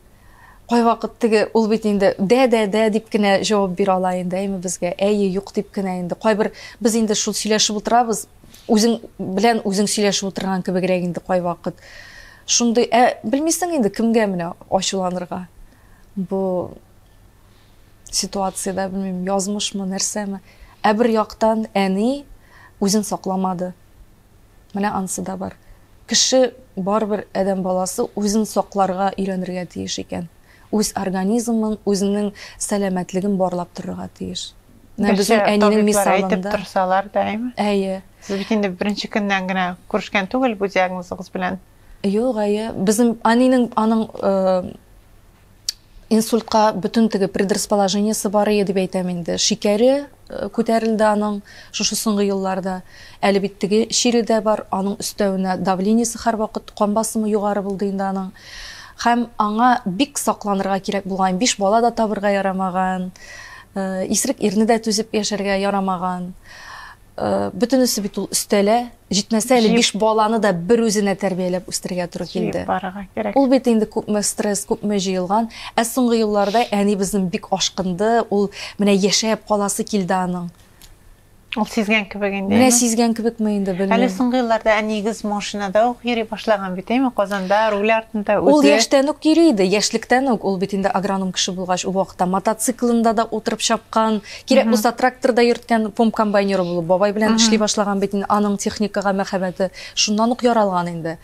Кайвакыт теге ул бит инде дә-дә-дә дип кенә җавап бирә ала инде, әйме безгә, әйе, юк дип кенә инде. Кайбер без инде шул сөйләшеп утырабыз, үзең белән үзең сөйләшеп утырган кебегрәк инде кайвакыт. Шундый, ә белмисең инде кемгә менә ачуланырга. Бу ситуациядә, белмим, язмышмы, нәрсәме. Ә бер яктан әни үзен сакламады. Менә ансы да бар. Кеше барыбер адәм баласы үзен сакларга өйрәнергә тиеш икән. Үз организмын, үзенең сәламәтлеген барлап торырга тиеш. Менә безнең әнинең мисалында. Әйтеп торсалар да, әйме? Әйе. Сез бит инде беренче көннән генә күрешкән түгел бу диагнозыгыз белән. Юк, әйе. Безнең әнинең аның э, инсультка бөтен теге предрасположениесе бар ие дип әйтәм инде. Шикәре э, күтәрелде аның шушы соңгы елларда. Әле бит теге чире дә бар, аның өстәвенә давлениесе һәрвакыт кан басымы югары булды инде аның. Һәм аңа бик сакланырга кирәк булган, биш бала да табырга ярамаган, э, исрек ирне дә түзеп яшәргә ярамаган. Бөтенесе бит ул өстәлә, җитмәсә әле биш баланы да бер үзенә тәрбияләп үстергә туры килде. Ул бит инде күпме стресс, күпме җыелган. Ә соңгы елларда әни безнең бик ашкынды, ул менә яшәп каласы килде аның. Ул сизгән кебек инде. Менә сизгән кебекме инде, белмим. Әле соңгы елларда әниегез машинада ук йөри башлаган бит, әйме, Казанда, руль артында үзе. Ул яшьтән үк йөри иде, яшьлектән үк. Ул бит инде агроном кеше булгач, ул вакытта мотоциклында да утырып чапкан, Кирәк Мгм. булса, тракторда йөрткән, пом комбайнеры булып, бабай белән Мгм. эшли башлаган бит инде. Аның техникага мәхәббәте шуннан ук яралган инде.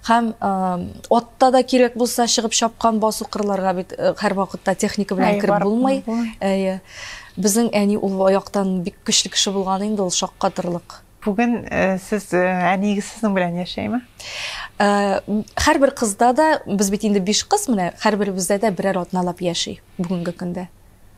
Һәм э, атта да кирәк булса чыгып чапкан басу кырларга бит э, һәрвакытта техника белән Әй, кереп барып булмый. булмый. Әйе. Безнең әни ул яктан бик көчле кеше булган инде, ул шаккатырлык. Бүген э, сез э, әниегез сезнең белән яшәйме? Э, Һәрбер кызда да, без бит инде биш кыз менә, һәрберебездә дә берәр атналап яши бүгенге көндә.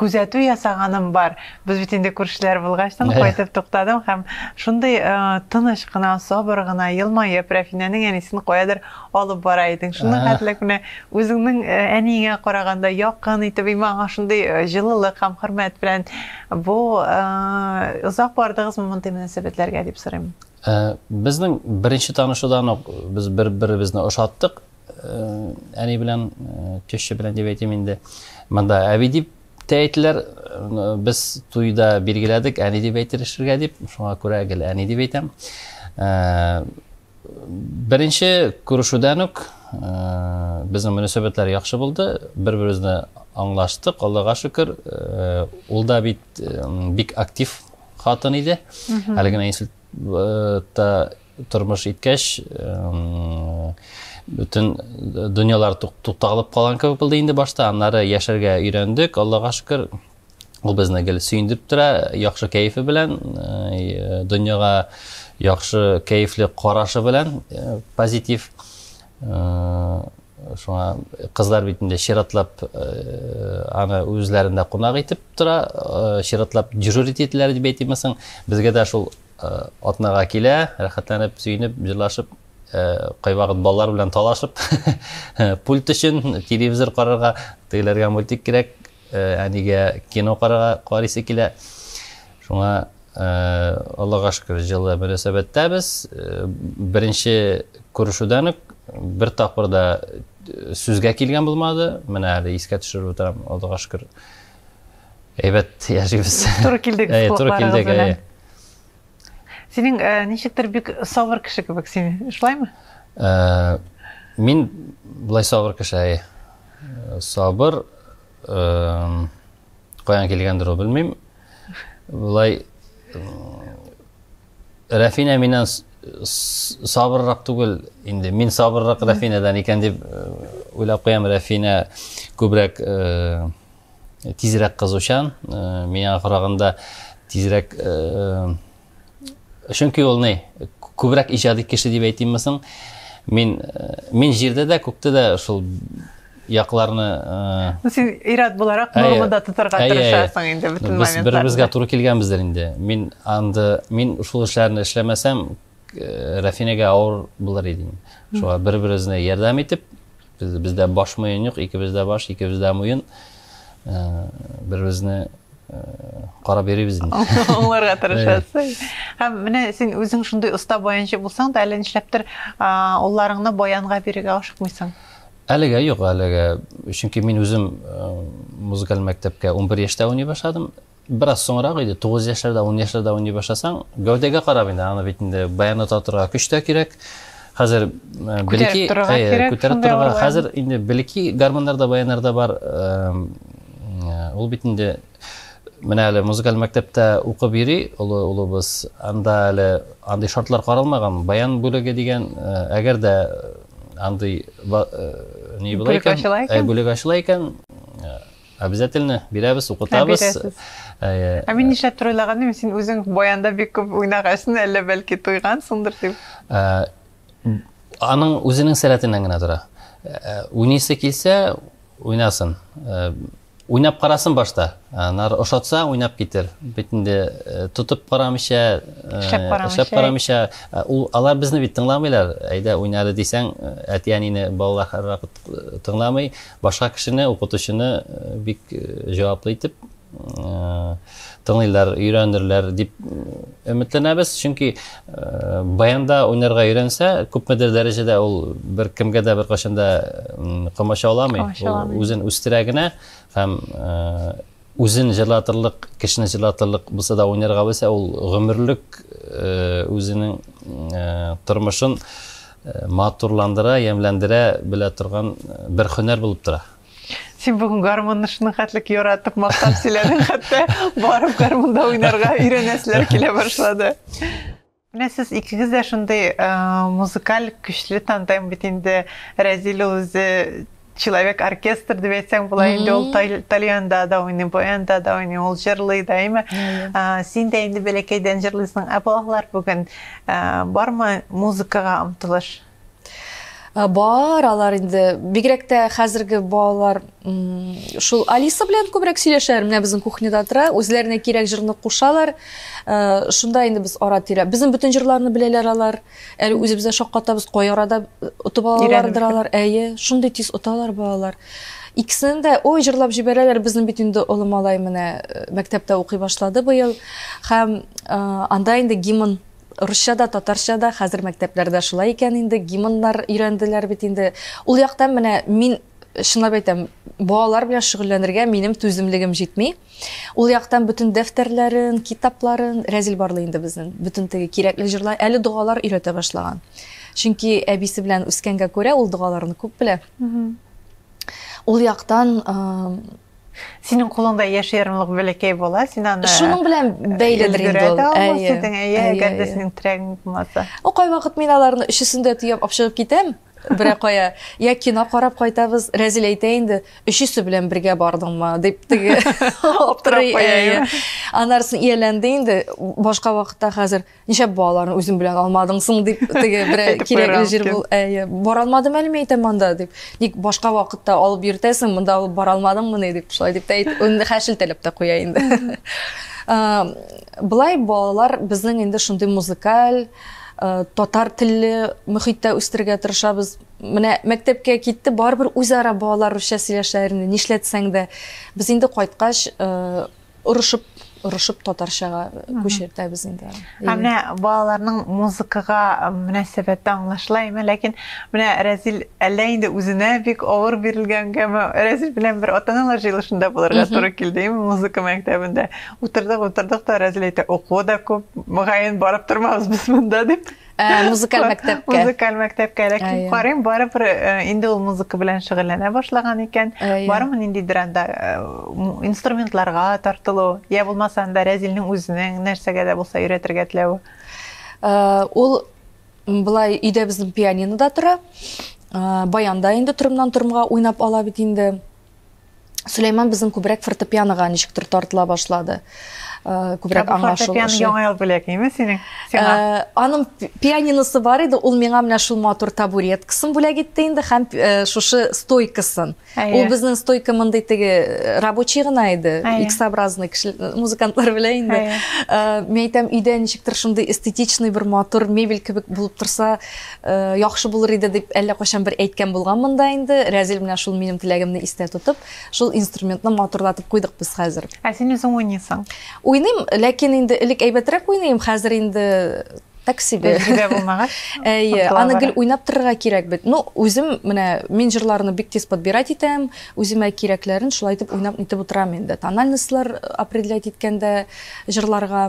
күзәтү ясаганым бар. Без бит инде күршеләр булгач, тын кайтып туктадым һәм шундый э, тыныч кына, сабыр гына, елмаеп, Рәфинәнең әнисен каядыр алып бара идең. Шуның хәтлек менә үзеңнең э, әниеңә караганда якын итеп, имма аңа шундый э, җылылык һәм хөрмәт белән бу озак бардыгызмы мондый мөнәсәбәтләргә дип сорыйм. Безнең беренче танышудан ук без бер-беребезне ошаттык. Әни белән теща белән дип әйтим инде. Монда әби дип тә әйтеләр. Без туйда билгеләдек, әни дип әйтелешергә дип. Шуңа күрә гел әни дип әйтәм. Беренче күрешүдән үк безнең мөнәсәбәтләр яхшы булды. Бер-беребезне аңлаштык, Аллага шөкер. Ул да бит бик актив хатын иде. Әле генә инсульт та тормыш иткәч, бөтен дөньялар тукталып калган кебек булды инде башта. Аннары яшәргә өйрәндек, Аллага шөкер. Ул безне гел сөендереп тора, яхшы кәефе белән, э, дөньяга яхшы кәефле карашы белән, э, позитив. Э, шуңа кызлар бит инде чиратлап аны үзләрендә кунак итеп тора, чиратлап дежурить ителәләр дип әйтимесең. Безгә дә шул Атнага килә, рәхәтләнеп, сөенеп, җырлашып, кайвакыт балалар белән талашып, пульт өчен телевизор карарга, тегеләргә мультик кирәк, әнигә кино карарга карыйсы килә. Шуңа Аллага шөкер, җылы мөнәсәбәттәбез. Беренче күрешүдән үк бер тапкыр да сүзгә килгән булмады. Менә әле искә төшереп утырам, Аллага шөкер. Әйбәт яшибез. Туры килдек Әй, туры колакларыгыз килдек, белән. әй. Синең э, ничектер бик сабыр кеше кебек син, шулаймы? Ә, Мин былай сабыр кеше, әй. Э, Сабыр, эм, каян килгәндер ул, белмим. Былай, Рәфинә миннән сабыррак түгел инде мин сабыррак рәфинәдән икән дип э, уйлап куям рәфинә күбрәк э, тизрәк кызучан э, миңа караганда тизрәк чөнки ул ни күбрәк иҗади кеше дип әйтимме соң мин мин җирдә дә күктә дә шул якларны ну син ир-ат буларак нормада тотарга тырышасың инде бөтен моментларда без бер-беребезгә туры килгәнбездер инде мин анда мин шул эшләрне эшләмәсәм рәфинәгә авыр булыр иде шуңа бер-беребезне ярдәм итеп бездә баш муен юк икебез дә баш икебез дә муен бер-беребезне карап йөрибез инде аңларга тырышасың һәм менә син үзең шундый оста баянчы булсаң да әллә нишләптер улларыңны баянга бирергә ашыкмыйсың Әлегә юк, әлегә, чөнки мин үзем э, музыкаль мәктәпкә 11 яшьтә уйный башладым. Бераз соңрак иде, 9 яшьләрдә, 10 яшьләрдә уйный башласаң, гәүдәгә карап инде, аны бит инде баян ата торырга көч тә кирәк. Хәзер э, белеки э, күтәреп торырга, хәзер инде белеки гармоннарда, баяннарда бар. Ул бит инде Менә әле музыкаль мәктәптә укып йөри олы улыбыз. Анда әле андый шартлар каралмаган. Баян бүлеге дигән, э, әгәр дә э, андый ба- э, ни була Бүлек икән, ачыла икән? ә, бүлек ачыла икән, э, обязательно бирәбез, укытабыз. бирәсез. Э, Ә мин нишләп төр уйлаганым, син үзең баянда бик күп уйнагансың, әллә бәлки туйгансыңдыр дип. Ә, аның үзенең сәләтеннән генә тора. Ә, Уйныйсы килсә, уйнасын. Ә, Уйнап карасын башта. Анар ошатса, уйнап китер. Бит инде тотып карамыйча, эшләп карамыйча, ул алар безне бит тыңламыйлар. Әйдә уйнары дисәң, әти-әнине балалар һәрвакыт тыңламый. Башка кешене, укытучыны бик җаваплы итеп тыңлыйлар, өйрәнерләр дип өметләнәбез, чөнки баянда уйнарга өйрәнсә, күпмедер дәрәҗәдә ул бер кемгә дә беркайчан да комачауламый, үзен үстерә генә һәм үзен җырлатырлык, кешене җырлатырлык булса да уйнарга белсә, ул гомерлек үзенең тормышын матурландыра, ямьләндерә белә торган бер һөнәр булып тора. Син бүген гармунны шуның хәтлек яратып мактап сөйләдең, хәтта барып гармунда уйнарга өйрәнәселәр килә башлады. Менә сез икегез дә шундый э, музыкаль көчле тандем бит инде. Рәзил ул үзе человек оркестр дип әйтсәң була инде ул тальянда да уйный баянда да уйный ул җырлый да әйме син дә инде бәләкәйдән җырлыйсың ә балалар бүген бармы музыкага омтылыш Э, бар алар инде бигрәк тә хәзерге балалар шул алиса белән күбрәк сөйләшәләр менә безнең кухняда тора үзләренә кирәк җырны кушалар э, шунда инде без ара тирә безнең бөтен җырларны беләләр алар әле үзебез дә шаккатабыз кай арада отып алалардыр алар әйе шундый тиз оталар балалар икесен дә ой җырлап җибәрәләр безнең бит инде олы малай менә э, мәктәптә укый башлады быел һәм анда инде гимн Русча да, татарча да, хәзер мәктәпләрдә шулай икән инде, гимннар өйрәнделәр бит инде. Ул яктан менә мин чынлап әйтәм, балалар белән шөгыльләнергә минем түземлегем җитми. Ул яктан бөтен дәфтәрләрен, китапларын Рәзил барлый инде безнең. Бөтен теге кирәкле җырлар, әле догалар өйрәтә башлаган. Чөнки әбисе белән үскәнгә күрә, ул догаларны күп белә. Ул яктан Синең кулыңда яшь ярымлык бәләкәй бала, син аны Шуның белән бәйледер инде ул. Әйе. Әйе, әгәр дә синең терәгең булмаса. О, кайвакыт мин аларны өчесен дә төяп апшыгып китәм. Бирә кая? Я кино карап кайтабыз. Рәзил әйтә инде, өчесе белән бергә бардыңмы? дип теге аптырый. Анарсын ияләнде инде. Башка вакытта хәзер Ничәп балаларны үзем белән алмадың соң дип теге берәр кирәкле җир бул. Әйе, бара алмадым әле мин әйтәм монда дип. Ник башка вакытта алып йөртәсең, монда алып бара алмадыңмыни дип, шулай дип тә әйтеп, инде хәшелтәләп тә куя инде. Былай балалар безнең инде шундый музыкаль, татар телле мөхиттә үстерергә тырышабыз. Менә мәктәпкә китте, барыбер үзара балалар русча сөйләшәләр инде, нишләтсәң дә. Без инде кайткач, Орышып, орышып татарчага күчертәбез инде. Ә менә балаларның музыкага мөнәсәбәте аңлашыла име, ләкин менә Рәзил әллә инде үзенә бик авыр бирелгәнгәме, Рәзил белән бер ата-аналар җыелышында булырга туры килде, име, музыка мәктәбендә. Утырдык, утырдык та Рәзил әйтә, укуы да күп, мөгаен барып тормабыз без монда, дип. Ә, музыкаль мәктәпкә. Музыкаль мәктәпкә ләкин карыйм, барыбер э, инде ул музыка белән шөгыльләнә башлаган икән. Барымы ниндидер анда э, инструментларга тартылу, я булмаса анда Рәзилнең үзенең нәрсәгә дә булса өйрәтергә теләве? Э, ул былай өйдә безнең пианинода тора. Баянда инде торымнан торымга уйнап ала бит инде. Сөләйман безнең күбрәк фортепианога ничектер тартыла башлады. Э, күбрәк аңлашылышы. Фортепиано яңа ел бүләгеме синең? Сиңа. Э, аның пианиносы бар иде, ул миңа менә шул матур табуреткасын бүләк итте инде һәм э, шушы стойкасын. Ул безнең стойка мондый теге рабочий гына иде, X-образный кеше музыкантлар белә инде. Мин әйтәм, өйдә ничектер шундый эстетичный бер матур мебель кебек булып торса, Э, яхшы булыр иде дип әллә кайчан бер әйткән булганмын да инде рәзил менә шул минем теләгемне истә тотып шул инструментны матурлатып куйдык без хәзер ә син үзең уйныйсың уйныйм ләкин инде элек әйбәтрәк уйныйм хәзер инде так себе тәҗрибә булмагач әйе аны гел уйнап торырга кирәк бит ну үзем менә мин җырларны бик тиз подбирать итәм үземә кирәкләрен шулай итеп уйнап итеп утырам инде тональностьлар э, определять иткәндә җырларга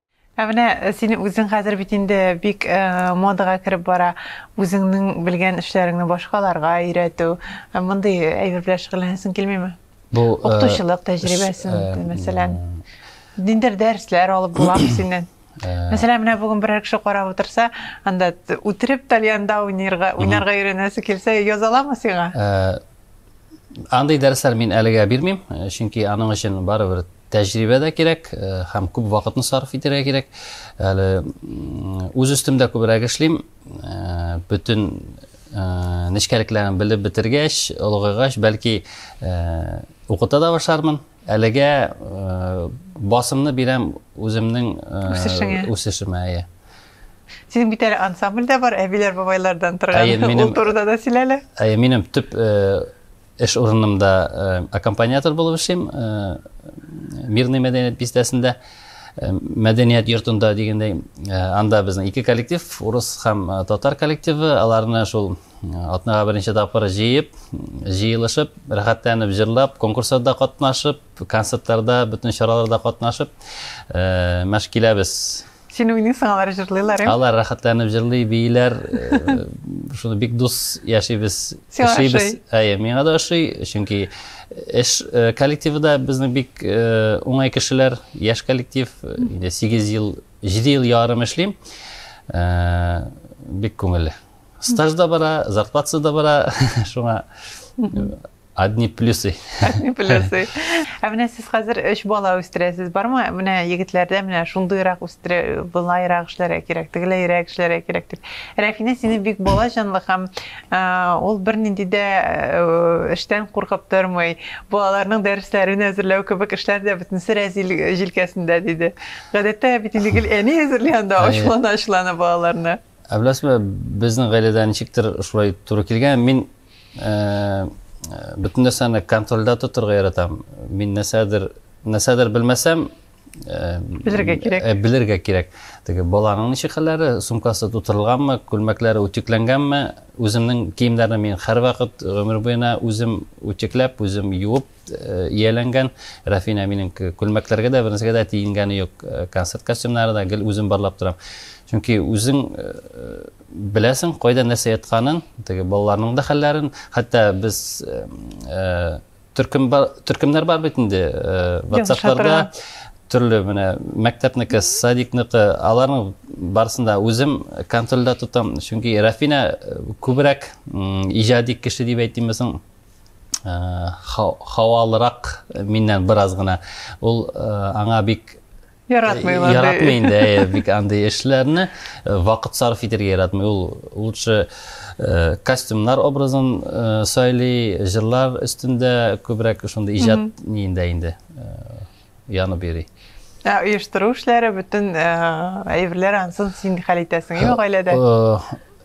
Ә менә син үзең хәзер бит инде бик модага кереп бара, үзеңнең белгән эшләреңне башкаларга өйрәтү, мондый әйбер белән шөгыльләнәсең килмиме? Бу укытучылык тәҗрибәсен, мәсәлән, ниндидер дәресләр алып буламы синнән? Мәсәлән, менә бүген берәр кеше карап утырса, анда үтереп тальянда уйнарга, уйнарга өйрәнәсе килсә, яза аламы сиңа? Андый дәресләр мин әлегә бирмим, чөнки аның өчен барыбер Тәҗрибә дә кирәк һәм күп вакытны сарыф итәргә кирәк. Әле үз өстемдә күбрәк эшлим. Бөтен нечкәлекләрен белеп бетергәч, олыгайгач, бәлки укыта да башлармын. Әлегә басымны бирәм үземнең үсешеңә. Үсешемә, әйе. Синең бит әле ансамбль дә бар, әбиләр-бабайлардан торган. Әйе, минем. Ул турыда да сөйлә әле. Әйе, минем төп Эш урынымда аккомпаниатор булып эшлим, Мирный мәдәният бистәсендә, мәдәният йортында дигәндәй, анда безнең ике коллектив, урыс һәм татар коллективы, аларны шул атнага беренче тапкыр җыеп, җыелышып, рәхәтләнеп җырлап, конкурсларда катнашып, концертларда, бөтен чараларда катнашып мәш киләбез. Син уйныйсың, алар җырлыйлар, ә? Алар рәхәтләнеп җырлый, бииләр. Шуны бик дус яшибез. Яшибез. Әйе, миңа да ошый, чөнки эш коллективы да безнең бик уңай кешеләр, яшь коллектив. Инде 8 ел, 7 ел ярым эшлим. Бик күңелле. Стаж да бара, зарплатасы да бара. Шуңа Одни плюсы. Одни плюсы. Ә менә сез хәзер өч бала үстерәсез, бармы? Менә егетләрдә менә шундыйрак үстерә, былайрак эшләргә кирәк, тегеләйрәк эшләргә кирәк дип. Рәфинә сине бик бала җанлы һәм ул бернинди дә эштән куркып тормый. Балаларның дәресләрен әзерләү кебек эшләр дә бөтенесе рәзил җилкәсендә диде. Гадәттә бит инде гел әни әзерли анда ачлана-ачлана балаларны. Ә беләсезме, безнең гаиләдә ничектер шулай туры килгән. Мин э, бөтен нәрсәне контрольдә тотырга яратам. Мин нәрсәдер нәрсәдер белмәсәм, э, белергә кирәк. Э, белергә кирәк. Теге баланың ничек хәлләре, сумкасы тутырылганмы, күлмәкләре үтекләнгәнме, үземнең киемнәрне мин һәрвакыт гомер буена үзем үтекләп, үзем юып, ияләнгән. Рәфин әбинең күлмәкләргә дә бернәрсәгә дә тиенгәне юк. Концерт костюмнары да гел үзем барлап торам. Чөнки үзең беләсең, кайда нәрсә ятканын, теге балаларның да хәлләрен, хәтта без төркем бар, төркемнәр бар бит инде WhatsApp-ларда төрле менә мәктәпнеке, садикныкы, аларның барысын да үзем контрольдә тотам. Чөнки Рәфинә күбрәк иҗади кеше дип әйтимме соң? хавалырак миннән бераз гына ул аңа бик яратмый яратмый инде бик андый эшләрне вакыт сарыф итәргә яратмый ул лучше костюмнар образын сайлый җырлар өстендә күбрәк шундый иҗат ниендә инде янып йөри. Ә оештыру эшләре бөтен әйберләр ансын син хәл итәсең ме гаиләдә?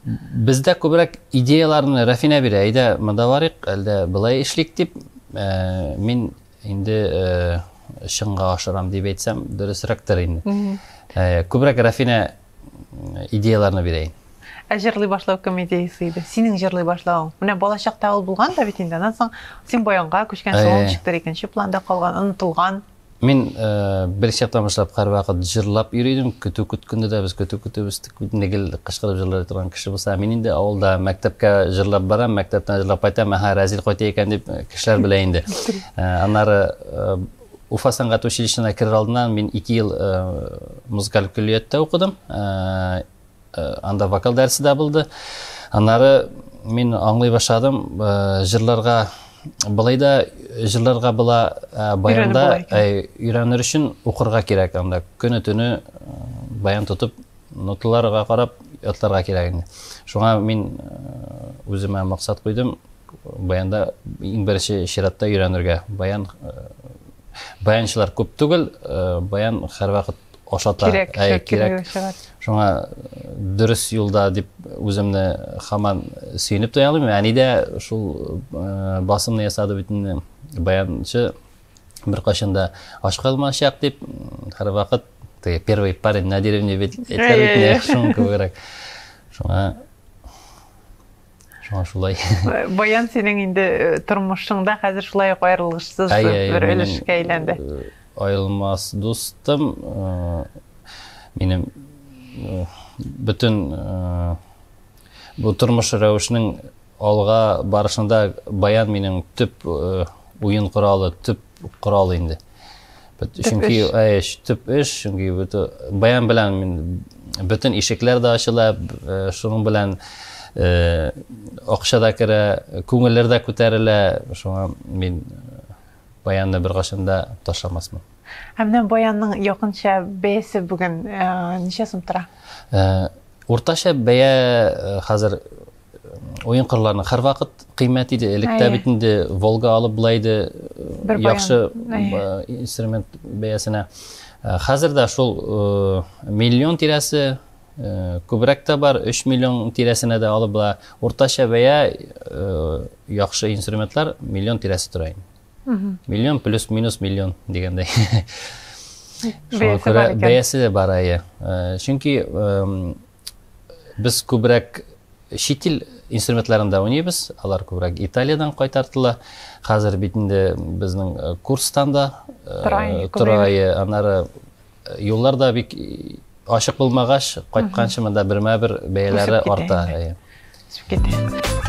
Бездә күбрәк идеяларны Рафина бирә. Әйдә, монда барыйк, әлдә былай эшлик дип, мин инде чынга ашырам дип әйтсәм, дөресрәктер инде. Күбрәк Рафина идеяларны бирәйин ә җырлый башлау кем идеясы иде синең җырлый башлавың менә балачакта ул булган да бит инде аннан соң син баянга күчкән соң ул ничектер икенче планда калган онытылган мин э, бер чактан башлап һәрвакыт җырлап йөри идем көтү көткәндә дә без көтү көтеп үстек бит инде гел кычкырып җырлый торган кеше булса мин инде авылда мәктәпкә җырлап барам мәктәптән җырлап кайтам әһә рәзил кайта икән дип э, кешеләр белә инде э, аннары Уфа сәнгать училищесына керер алдыннан мин ике ел э, музыкаль көллияттә укыдым. Э, э, анда вокал дәресе дә булды. Аннары мин аңлый башладым, җырларга былай да җырларга була, баянда өйрәнер өчен укырга кирәк анда. Көне-төне баян тотып Ноталарга карап ятларга кирәк инде. Шуңа мин үземә максат куйдым, баянда иң беренче чиратта өйрәнергә. Баян баянчылар күп түгел, баян һәрвакыт ашата. Кирәк, ә, кирәк. Шуңа дөрес юлда дип үземне хаман сөенеп тоялыйм. Әни дә шул басымны ясады бит инде баянчы беркайчан да ач калмачак дип һәрвакыт теге первый парень на деревне бит әйтер бит нәкъ шуның кебегрәк шуңа шуңа шулай баян синең инде э, тормышыңда хәзер шулай ук аерылгышсыз бер өлешкә әйләнде э, аерылмас дустым э, минем бөтен бу тормыш рәвешнең Алга барышында баян минем төп уен коралы, төп корал инде. Чөнки эш, төп эш, чөнки баян белән бөтен ишекләр дә ачыла, шуның белән акча да керә, күңелләр дә күтәрелә, шуңа мин баянны беркайчан да ташламасмын. Ә менә баянның якынча бәясе бүген ничә сум тора? Уртача бәя хәзер Уен кырларының һәрвакыт кыйммәт иде. Электә бит инде Волга алып былай иде яхшы инструмент бәясенә. Хәзер дә шул миллион тирәсе күбрәк тә бар, 3 миллион тирәсенә дә алып була. Уртача бәя яхшы инструментлар миллион тирәсе тора инде. Миллион плюс минус миллион дигәндәй. Бәясе бар. Бәясе бар, әйе. Чөнки без күбрәк чит ил инструментларында уйныйбыз. Алар күбрәк Италиядән кайтартыла. Хәзер бит инде безнең э, курстан да э, торайы, аннары э, юллар да бик ачык булмагач, кайтканчы монда бермә-бер бәяләре арта. Үсеп китә.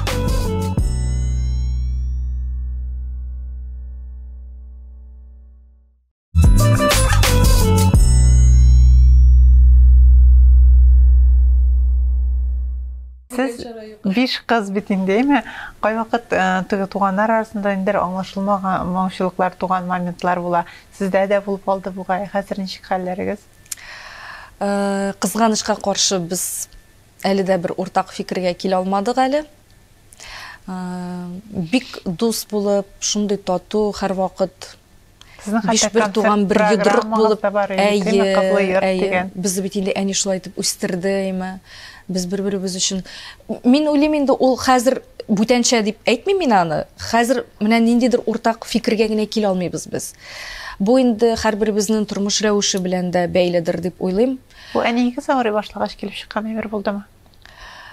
Сез биш кыз бит инде, әйме? Кайвакыт э, теге туганнар арасында инде аңлашылмаган моңчылыклар туган моментлар була. Сездә дә булып алды бугай. Хәзер ничек хәлләрегез? Э, кызганычка каршы без әле дә бер уртак фикергә килә алмадык әле. Э, бик дус булып, шундый тату һәрвакыт Сезнең хәтта концерт туган бер йодрык булып, әйе, әйе. Без бит инде әни шулай итеп үстерде, әйме. Без бер-беребез өчен. Мин уйлыйм инде ул хәзер бүтәнчә дип әйтмим мин аны. Хәзер менә ниндидер уртак фикергә генә килә алмыйбыз без. Бу инде һәрберебезнең тормыш рәвеше белән дә бәйледер дип уйлыйм. Бу әниегез авырый башлагач килеп чыккан әйбер булдымы?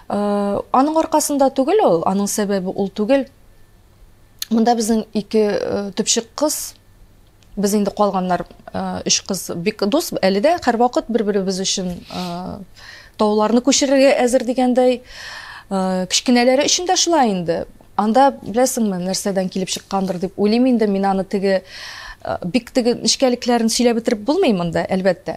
Э, аның аркасында түгел ул, аның сәбәбе ул түгел. Монда безнең ике э, төпчек кыз, без инде калганнар э, өч кыз бик дус, әле дә һәрвакыт бер-беребез өчен э, тауларны күчерергә әзер дигәндәй. Кечкенәләре өчен дә шулай инде. Анда беләсеңме, нәрсәдән килеп чыккандыр дип уйлыйм инде, мин аны теге бик теге нечкәлекләрен сөйләп бетереп булмый монда, әлбәттә.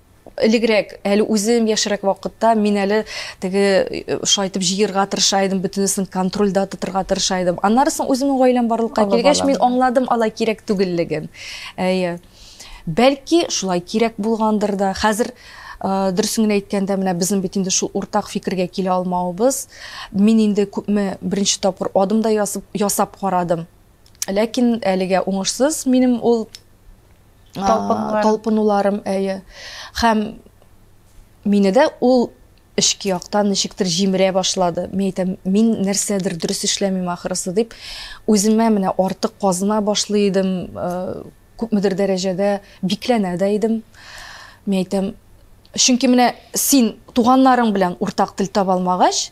Элегрәк, әле үзем яшьрәк вакытта мин әле теге э, шайтып җыерга тырыша идем, бөтенесен контрольдә тотырга тырыша идем. Аннары соң үземнең гаиләм барлыкка килгәч, мин аңладым алай кирәк түгеллеген. Әйе. Бәлки шулай кирәк булгандыр да. Хәзер э, дөресен генә әйткәндә, менә безнең бит инде шул уртак фикергә килә алмавыбыз. Мин инде күпме беренче тапкыр адым да ясап, ясап карадым. Ләкин әлегә уңышсыз минем ул талпынуларым, әйе. Хәм мине дә ул эшки яктан ничектер җимерә башлады. Мин әйтәм, мин нәрсәдер дөрес эшләмим ахырысы дип, үземә менә артык казына башлый идем, э, күпмедер дәрәҗәдә бикләнә дә идем. Мин әйтәм, чөнки менә син туганнарың белән уртак тел таба алмагач,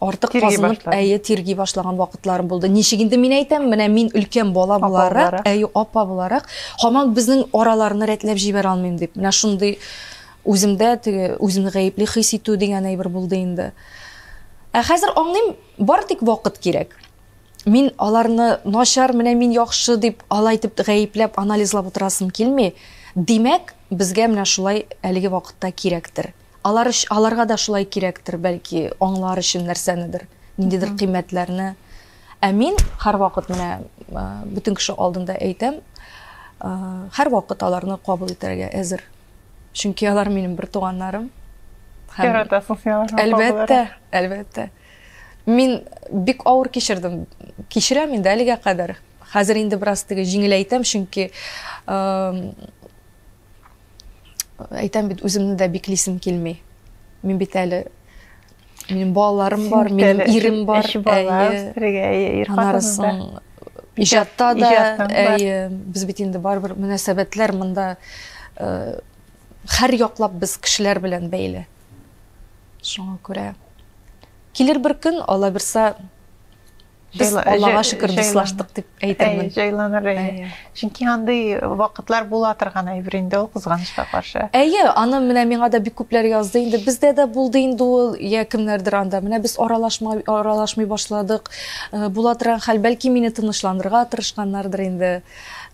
артык тирги казынып, башладым. әйе, тирги башлаган вакытларым булды. Ничек инде мин әйтәм, менә мин өлкән бала Апа буларак, буларак. әйе, апа буларак, һаман безнең араларны рәтләп җибәрә алмыйм дип. Менә шундый үземдә теге үземне гаепли хис итү дигән әйбер булды инде. Ә хәзер аңлыйм, бары тик вакыт кирәк. Мин аларны начар, менә мин яхшы дип, алай итеп гаепләп, анализлап утырасым килми. Димәк, безгә менә шулай әлеге вакытта кирәктер. Алар өч, аларга да шулай кирәктер, бәлки, аңлар өчен нәрсәнедер, ниндидер Мгм. кыйммәтләрне. Ә мин һәрвакыт менә ә, бөтен кеше алдында әйтәм, ә, һәрвакыт аларны кабул итәргә әзер. Чөнки алар минем бер туганнарым. Һәм Яратасың син аларны. Әлбәттә, әлбәттә. Мин бик авыр кичердем. Кичерәм инде әлегә кадәр. Хәзер инде бераз теге җиңеләйтәм, чөнки эм, әйтәм бит, үземне дә биклисем килми. Мин бит әле минем балаларым бар, минем ирем бар. Өч бала үстерергә, ир хатынында. Иҗатта да, әйе, без бит инде барыбер мөнәсәбәтләр монда э, һәр яклап без кешеләр белән бәйле. Шуңа күрә килер бер көн, Алла бирса, Без Аллага шөкер дуслаштык дип әйтермен. Җайланыр. Чөнки андый вакытлар була торган әйбер инде ул кызганычка каршы. Әйе, аны менә миңа да бик күпләр язды инде. Бездә дә булды инде ул, я кемнәрдер анда. Менә без аралашмай аралашмый башладык. Э, була торган хәл, бәлки мине тынычландырырга тырышканнардыр инде.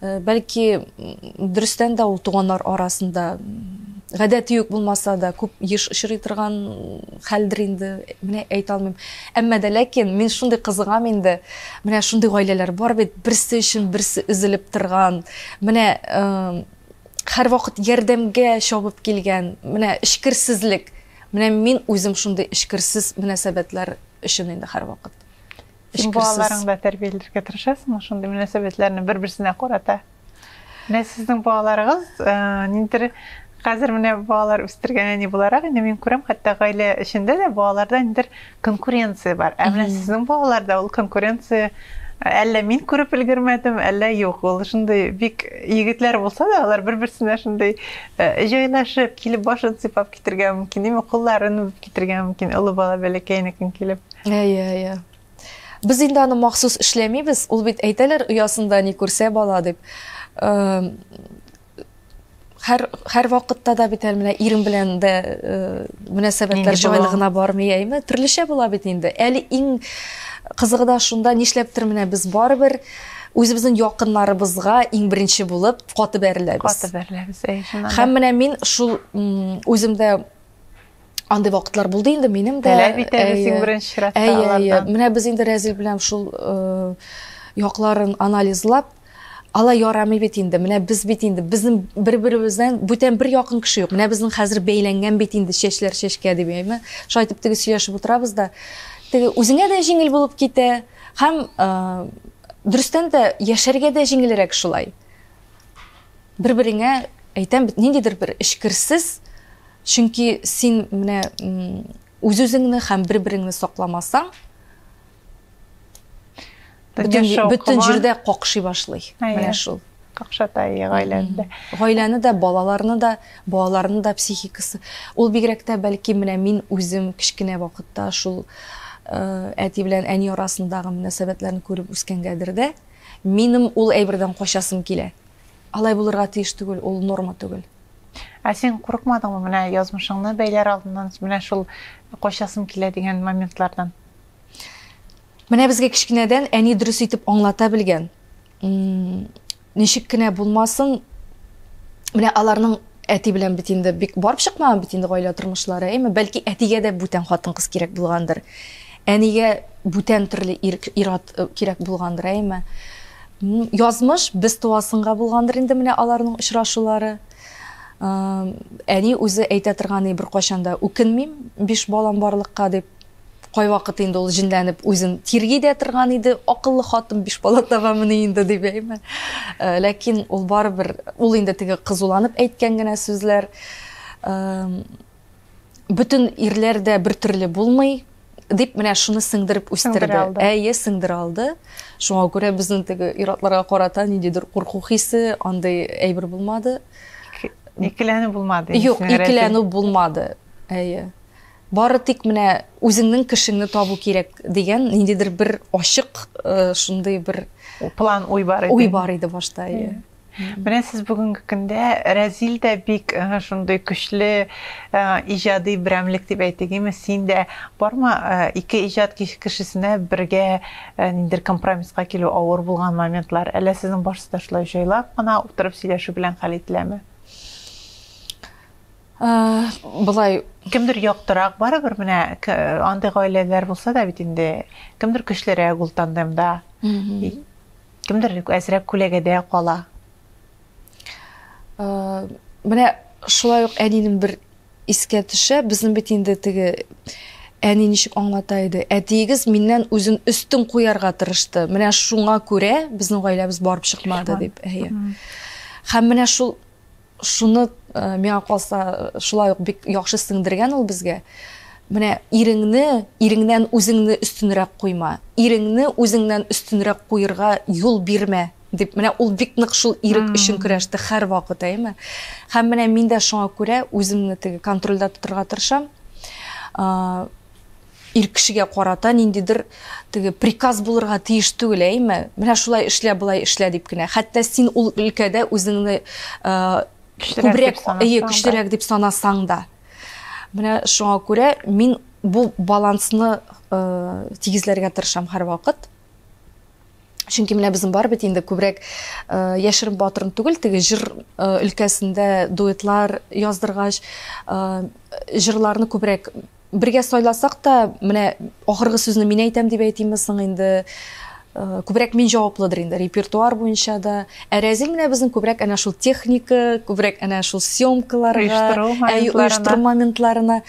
Э, бәлки дөрестән дә ул туганнар арасында гадәти үк булмаса да күп еш очрый торган хәлдер инде менә әйтә алмыйм әмма дә ләкин мин шундый кызыгам инде менә шундый гаиләләр бар бит берсе өчен берсе өзелеп торган менә э, һәрвакыт ярдәмгә чабып килгән менә эчкерсезлек менә мин үзем шундый эчкерсез мөнәсәбәтләр өчен инде һәрвакыт Син балаларыңны да тәрбияләргә тырышасыңмы шундый мөнәсәбәтләрне бер-берсенә карата? Менә сезнең балаларыгыз э, ниндидер хәзер менә балалар үстергән әни буларак инде мин күрәм, хәтта гаилә эчендә дә балаларда ниндидер конкуренция бар. Ә менә сезнең балаларда ул конкуренция әллә мин күреп өлгермәдем, әллә юк. Ул шундый бик егетләр булса да, алар бер-берсенә шундый э, җайлашып, килеп башын сыйпап китергә мөмкин, димме, кулларын үбеп китергә мөмкин, олы бала бәләкәйнекен килеп. Әйе, әйе. Без инде аны махсус эшләмибез, ул бит әйтәләр оясында ни күрсә бала дип. Хәр хәр вакытта да бит әле менә ирем белән дә мөнәсәбәтләр җайлы гына бармый, әйме? Төрлечә була бит инде. Әле иң кызыгы да шунда, нишләптер менә без барыбер үзебезнең якыннарыбызга иң беренче булып каты бәреләбез. Каты бәреләбез, әйе. Һәм менә мин шул үземдә андый вакытлар булды инде минем дә таләп итәбез иң беренче чиратта алардан менә без инде рәзил белән шул э, якларын анализлап ала ярамый бит инде менә без бит инде безнең бер беребездән бүтән бер якын кеше юк менә безнең хәзер бәйләнгән бит инде чәчләр чәчкә дип әйме шулай итеп теге сөйләшеп утырабыз да теге үзеңә дә җиңел булып китә һәм э, дөрестән дә яшәргә дә җиңелрәк шулай бер береңә әйтәм ниндидер бер эчкерсез Чөнки син менә үз-үзеңне һәм бер-береңне сакламасаң, бөтен җирдә какшый башлый. Менә шул. Какшата ие гаиләне дә. Гаиләне дә, балаларны да, балаларны да психикасы. Ул бигрәк тә бәлки менә мин үзем кечкенә вакытта шул э, әти белән әни арасындагы мөнәсәбәтләрне күреп үскәнгәдер дә, минем ул әйбердән качасым килә. Алай булырга тиеш түгел, ул норма түгел. Ә син курыкмадыңмы менә язмышыңны бәйләр алдыннан, менә шул качасым килә дигән моментлардан? Менә безгә кечкенәдән әни дөрес итеп аңлата белгән. Ничек кенә булмасын, менә аларның әти белән бит инде бик барып чыкмаган бит инде гаилә тормышлары, әйме, бәлки әтигә дә бүтән хатын-кыз кирәк булгандыр. Әнигә бүтән төрле ир-ат кирәк булгандыр, әйеме? Язмыш без туасынга булгандыр инде менә аларның очрашулары. Әни үзе әйтә торган, ни бер кайчан да үкенмим, биш балам барлыкка дип. Кайвакыт инде ул җенләнеп үзен тирги дә торган иде, акыллы хатын биш бала табамыни инде дип, әйеме? Ләкин ул барыбер, ул инде теге кызуланып әйткән генә сүзләр. Бөтен ирләр дә бер төрле булмый, дип менә шуны сеңдереп үстерде. Әйе, сеңдерә алды. Шуңа күрә безнең теге иратларга карата ниндидер курку хисе, андый әйбер булмады. Икеләнү булмады. Юк, икеләнү булмады. Әйе. Бары тик менә үзеңнең кешеңне табу кирәк дигән ниндидер бер ачык э, шундый бер план уй бар иде. Уй бар иде башта, әйе. Менә сез бүгенге көндә Рәзил дә бик шундый көчле иҗади берәмлек дип әйтик, име син дә барма ике иҗат кешесенә бергә ниндер компромисска килү авыр булган моментлар, әллә сезнең барсы да шулай җайлап кына утырып сөйләшү белән хәл ителәме? Болай кемдер яктырак барыбер менә андый гаиләләр булса да бит инде кемдер көчлерәк ул тандемда Кемдер әзрәк күләгәдә кала. Менә шулай ук әнинең бер искә төшә, безнең бит инде теге әни ничек аңлата иде, әтиегез миннән үзен өстен куярга тырышты. Менә шуңа күрә безнең гаиләбез барып чыкмады дип. Әйе. Һәм менә шул Шуны, миңа калса, шулай ук бик яхшы сеңдергән ул безгә. Менә иреңне, иреңнән үзеңне өстенрәк куйма. Иреңне үзеңнән өстенрәк куерга юл бирмә, дип, менә ул бик нык шул ирек өчен көрәште һәрвакыт, әйеме? Һәм менә мин дә шуңа күрә үземне теге контрольдә тотырга тырышам. Ир кешегә карата ниндидер теге приказ булырга тиеш түгел, әйме? Менә шулай эшлә, болай эшлә дип кенә. Хәтта син ул өлкәдә үзеңне күбрәк, әйе, көчлерәк дип санасаң да. Менә шуңа күрә мин бу балансны тигезләргә тырышам һәрвакыт. Чөнки менә безнең бар бит инде күбрәк э, яшерен батырын түгел, теге җыр э, өлкәсендә дуэтлар яздыргач, э, җырларны күбрәк бергә сайласак та, менә ахыргы сүзне мин әйтәм дип әйтимме соң инде? күбрәк мин җаваплыдыр инде репертуар буенча да. Ә Рәзил менә безнең күбрәк әнә шул техника, күбрәк әнә шул съемкаларга, оештыру моментларына.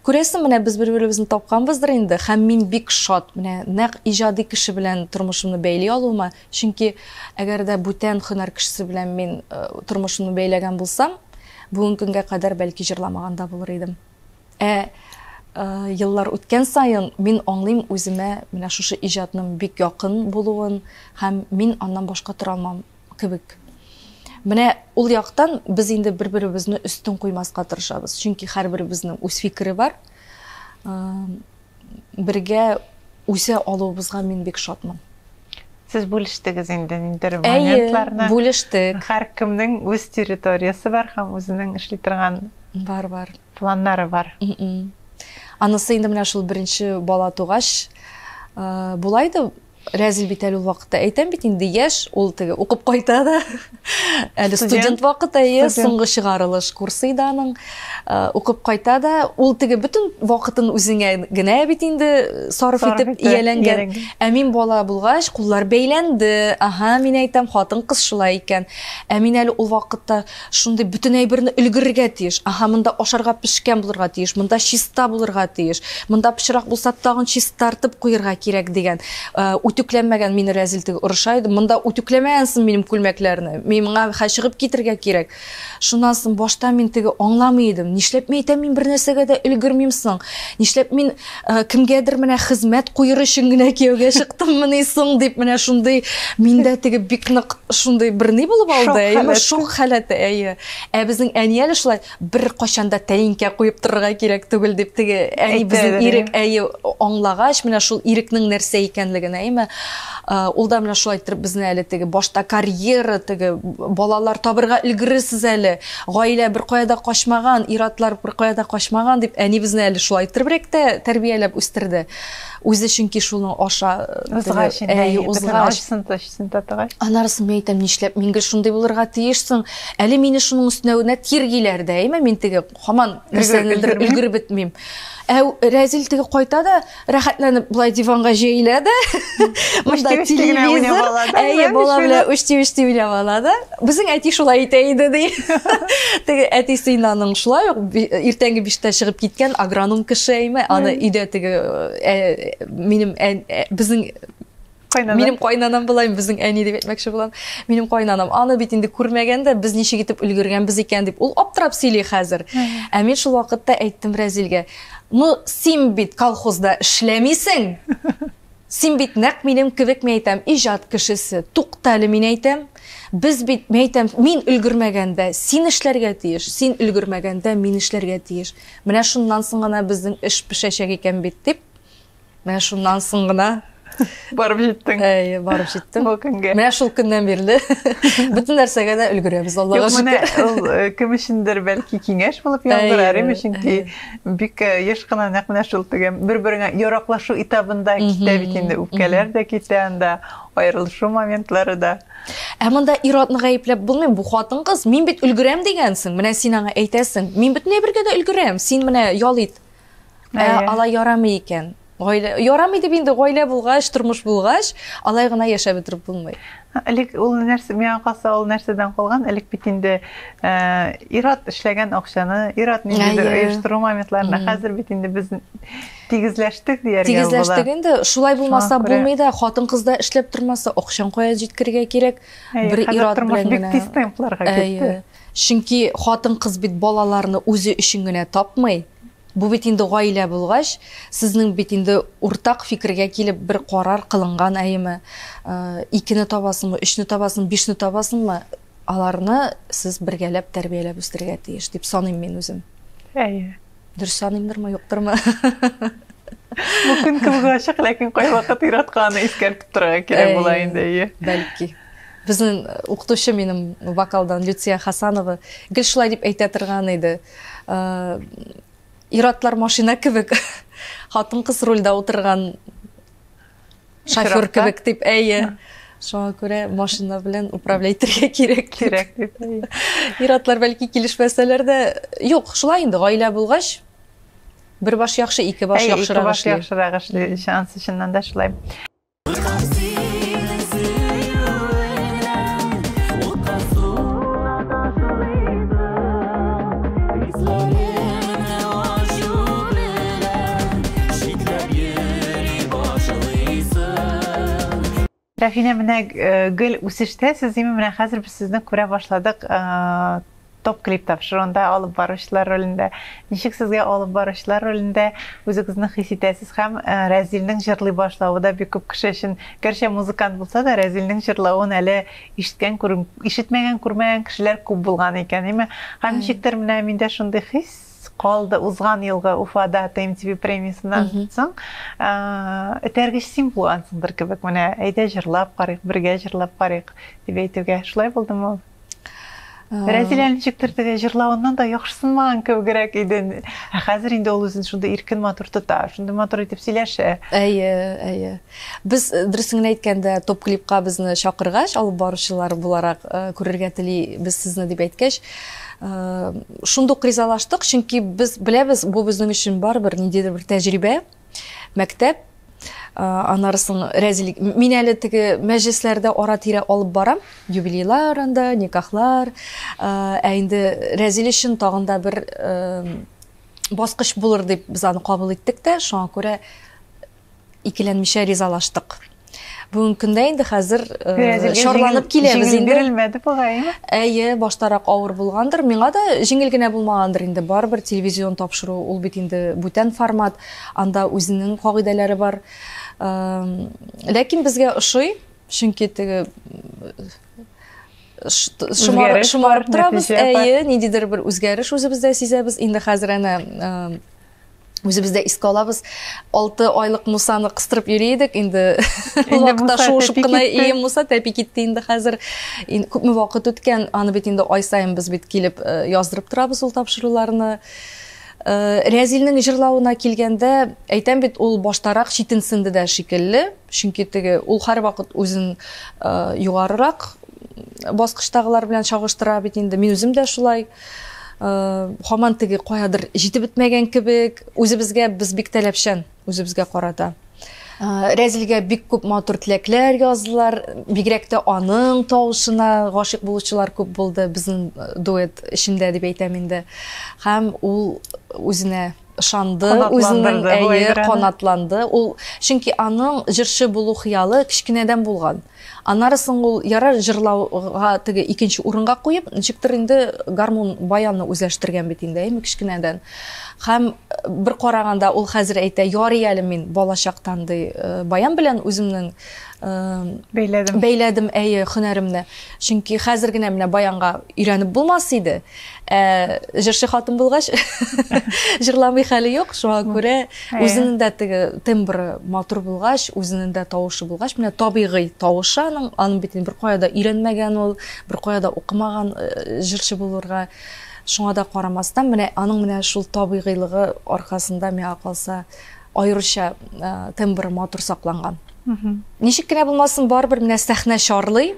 Күрәсең, менә без бер-беребезне тапканбыздыр инде, һәм мин бик шат, менә нәкъ иҗади кеше белән тормышымны бәйли алуыма, чөнки әгәр дә бүтән һөнәр кешесе белән мин тормышымны бәйләгән булсам, бүген көнгә кадәр бәлки җырламаган да булыр идем. Ә еллар үткән саен мин аңлыйм үземә менә шушы иҗатның бик якын булуын һәм мин аннан башка тора алмам. кебек. Менә ул яктан без инде бер-беребезне өстен куймаска тырышабыз. Чөнки һәрберебезнең үз фикере бар. Бергә үсә алуыбызга мин бик шатмын. Сез бүлештегез инде ниндер моментларны. Әйе, бүлештек. Һәр кемнең үз территориясе бар һәм үзенең эшли торган бар бар. Планнары бар. Анысы инде менә шул беренче бала тугач, булай да Рәзил бит әле ул вакытта. Әйтәм бит инде, яшь, ул теге укып кайта да. Әле студент вакыт, әйе, соңгы чыгарылыш курсы иде аның. Э, укып кайта да, ул теге бөтен вакытын үзеңә генә бит инде э, сарыф итеп ияләнгән. Ә мин бала булгач, куллар бәйләнде. Ага, мин әйтәм, хатын-кыз шулай икән. Ә мин әле ул вакытта Шундый бөтен әйберне өлгерергә тиеш. Аһа, монда ашарга пешкән булырга тиеш, монда чиста булырга тиеш, монда пычрак булса, тагын чистартып куерга кирәк, дигән үтүкләмәгән мине рәзил теге орыша иде. Монда үтүкләмәгәнсең минем күлмәкләрне, миңа хә чыгып китергә кирәк. Шуннан соң башта мин теге аңламый идем, нишләп мин әйтәм, мин бернәрсәгә дә өлгермим соң, нишләп мин Э, кемгәдер менә хезмәт куер өчен генә кияүгә чыктыммыни соң дип менә шундый миндә теге бик нык шундый бер ни булып алды әйеме шок халәте әйе ә безнең әни әле шулай бер качан да тәлинкә куеп торырга кирәк түгел дип теге әни безнең ирек әйе аңлагач менә шул ирекнең нәрсә икәнлеген әйеме э, ул да менә шулай иттереп безне әле теге башта карьера теге балалар табырга өлгерерсез әле Гаилә беркая да качмаган, ир-атлар беркая да качмаган дип әнибезне әле шулай иттеребрәк тә тәрбияләп үстерде. Үзе чөнки шуны аша узгач, әй, узгач, сын ташсын татыгач. Анарысын мин әйтәм, нишләп мин гел шундый булырга тиешсең? Әле мине шуның өстенә генә тиргиләр дә, әйме мин теге хаман нәрсәнедер өлгереп бетмим. Ә Рәзил теге кайта да, рәхәтләнеп болай диванга җәелә дә монда телевизор әйе бала белән үчти үчти уйнап ала да безнең әти шулай итә иде ди теге әтисе инде аның шулай ук иртәнге биштә чыгып киткән агроном кеше әйме аны өйдә теге минем безнең Кайнана. Минем кайнанам була, безнең әни дип әйтмәкче булам. Минем кайнанам. Аны бит инде күрмәгән дә, без ничек итеп өлгергәнбез икән дип. Ул аптырап сөйли хәзер. Ә мин шул вакытта әйттем Разилгә, "Ну, син бит колхозда эшләмисең. Син бит нәкъ минем кебек мин әйтәм, иҗат кешесе. Туктале мин әйтәм, без бит мин әйтәм, мин өлгермәгәндә син эшләргә тиеш, син өлгермәгәндә мин эшләргә тиеш. Менә шуннан соң гына безнең эш пешәчәк икән бит дип Менә шуннан соң гына барып җиттең. Әйе, барып җиттем. Бу көнгә. Менә шул көннән бирле бөтен нәрсәгә дә өлгерәбез, Аллага шөкер. Ул э, кем өчендер бәлки киңәш булып яздырар, име, чөнки бик э, еш кына нәкъ менә шул тегем бер-береңә яраклашу этабында китә бит инде, үпкәләр дә китә анда, аерылышу моментлары да. Ә монда ир-атны гаепләп булмый, бу хатын-кыз, мин бит өлгерәм дигәнсең, менә син аңа әйтәсең, мин бөтенләй бергә дә өлгерәм, син менә ял ит, Ә алай ярамый икән. Гаилә ярамый дип инде гаилә булгач, тормыш булгач, алай гына яшәп бетереп булмый. Элек ул нәрсә миңа калса ул нәрсәдән калган? Элек бит инде э, ират эшләгән акчаны, ират ниндидер оештыру моментларында хәзер бит инде без тигезләштек дияргә була. Тигезләштек инде. Шулай булмаса булмый да, хатын кызда эшләп тормаса, акчаң кая җиткерергә кирәк? Бер ират белән генә. Бик тиз темпларга китте. Чөнки хатын-кыз бит балаларны үзе өчен генә тапмый. Бу бит инде гаилә булгач, сезнең бит инде уртак фикергә килеп бер карар кылынган әйеме. Икене табасыңмы, өчне табасыңмы, бишне табасыңмы, аларны сез бергәләп тәрбияләп үстерергә тиеш, дип саныйм мин үзем. Әйе. Дөрес саныймдырмы, юктырмы? Бу көн кылга ачык, ләкин кайвакыт ир-атканы искәртеп торырга кирәк була инде, әйе. Бәлки. Безнең укытучы минем вокалдан Люция Хасанова гел шулай дип әйтә торган иде. Ир-атлар машина кебек, хатын-кыз рульдә утырган шофер кебек дип әйе шуңа күрә машина белән управлять итәргә кирәк кирәк дип ир-атлар бәлки килешмәсәләр дә юк шулай инде гаилә булгач бер баш яхшы ике баш яхшырак эшли ике баш яхшырак эшли шанс чыннан да шулай Рәфинә, менә гел үсештә сез име, менә хәзер без сезне күрә башладык топ клип тапшыруында алып баручылар ролендә. Ничек сезгә алып баручылар ролендә үзегезне хис итәсез һәм Рәзилнең җырлый башлавы да бик күп кеше өчен, гәрчә музыкант булса да, Рәзилнең җырлавын әле ишеткән, ишетмәгән, күрмәгән кешеләр күп булган икән, име? Һәм ничектер менә миндә шундый хис, калды узган елгы уфада тмтв премиясеннән соң этәргеч син булгансыңдыр кебек менә әйдә җырлап карыйк бергә җырлап карыйк дип әйтүгә шулай булдымы рәзилә ничектер җырлавыннан да яхшысынмаган кебегрәк иде ә хәзер инде ул үзен шундый иркен матур тота шундый матур итеп сөйләшә әйе әйе Без, дөресен генә әйткәндә, топ клипка безне чакыргач, алып баручылар буларак күрергә телибез сезне дип әйткәч, шундук ризалаштык, чөнки без беләбез, бу безнең өчен барыбер ниндидер бер тәҗрибә, мәктәп, аннары соң рәзилек. Мин әле теге мәҗлесләрдә ара-тирә алып барам, юбилейлар анда, никахлар, ә инде рәзил өчен тагын да бер баскыч булыр дип без аны кабул иттек тә, шуңа күрә Икеләнмичә ризалаштык. Бүгенге көндә инде хәзер э, шарланып киләбез инде. Бирелмәде бугай. Әйе, баштарак авыр булгандыр. Миңа да җиңел генә булмагандыр инде. Барыбер телевизион тапшыру, ул бит инде бүтән формат. Анда үзенең кагыйдәләре бар. Э, ләкин безгә ошый, чөнки теге шомарып торабыз әйе ниндидер бер үзгәреш үзебездә сизәбез инде хәзер әнә э, Үзебездә искә алабыз. 6 айлык Мусаны кыстырып йөри идек. Инде вакытта шуышып кына и Муса тәпи китте инде хәзер. Күпме вакыт үткән, аны бит инде ай саен без бит килеп э, яздырып торабыз ул тапшыруларны. Э, Рәзилнең җырлавына килгәндә, әйтәм бит, ул баштарак читенсенде дә шикелле, чөнки теге ул һәрвакыт үзен э, югарырак баскычтагылар белән чагыштыра бит инде. Мин үзем дә шулай. Һаман теге каядыр җитеп бетмәгән кебек, үзебезгә без бик таләпчән, үзебезгә карата. Рәзилгә бик күп матур теләкләр яздылар. Бигрәк тә аның тавышына гашыйк булучылар күп булды безнең дуэт эчендә дип әйтәм инде. Һәм ул үзенә ышанды үзенең әйе канатланды ул чөнки аның җырчы булу хыялы кечкенәдән булган аннары соң ул ярар җырлауга теге икенче урынга куеп ничектер инде гармун баянны үзләштергән бит инде әйме кечкенәдән һәм бер караганда ул хәзер әйтә ярый әле мин балачактан ди баян белән үземнең бәйләдем бәйләдем әйе һөнәремне чөнки хәзер генә менә баянга өйрәнеп булмас иде Ә җырчы хатын булгач, җырламый хәле юк. Шуңа күрә үзенең дә теге тембры матур булгач, үзенең дә тавышы булгач, менә табигый тавышы аның, аның бит бер кая да өйрәнмәгән ул, бер кая да укымаган э, җырчы булырга. Шуңа да карамастан, менә аның менә шул табигыйлыгы аркасында миңа калса аеруча э, тембры матур сакланган. Ничек кенә булмасын, барыбер менә сәхнә чарлый.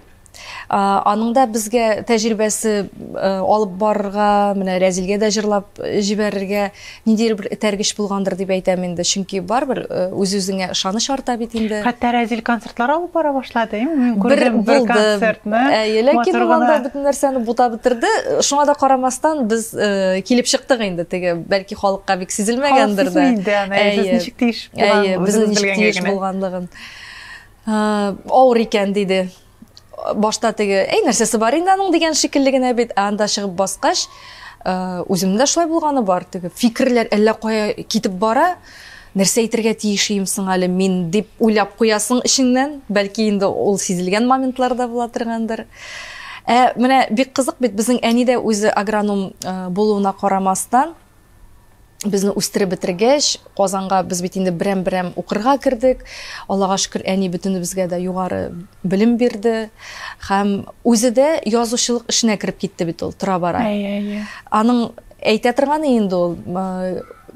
Аның да безгә тәҗрибәсе алып барырга, менә Рәзилгә дә җырлап җибәрергә ниндидер бер этәргеч булгандыр дип әйтәм инде. Чөнки барыбер үз-үзеңә ышаныч арта бит инде. Хәтта Рәзил концертлар алып бара башлады, әйеме? Мин күрдем бер концертны. Әйе, ләкин ул анда бөтен нәрсәне бутап бетерде. Шуңа да карамастан, без килеп чыктык инде теге, бәлки халыкка бик сизелмәгәндер дә. Халык сизми инде аны, әйе, сез ничек тиеш булган. Әйе, безнең ничек тиеш булганлыгын. Авыр икән, диде. Башта теге, әй, нәрсәсе бар инде аның дигән шикелле генә бит, ә анда чыгып баскач, үземдә шулай булганы бар, теге фикерләр әллә кая китеп бара, нәрсә әйтергә тиеш ием соң әле мин дип уйлап куясың эчеңнән, бәлки инде ул сизелгән моментлар да була торгандыр. Ә менә бик кызык бит, безнең әни дә үзе агроном булуына карамастан, Безне үстереп бетергәч, Казанга без бит инде берәм-берәм укырга кердек. Аллага шөкер, әни бөтенебезгә дә югары белем бирде. Һәм үзе дә язучылык эшенә кереп китте бит ул тора-бара. Аның әйтә торганы инде ул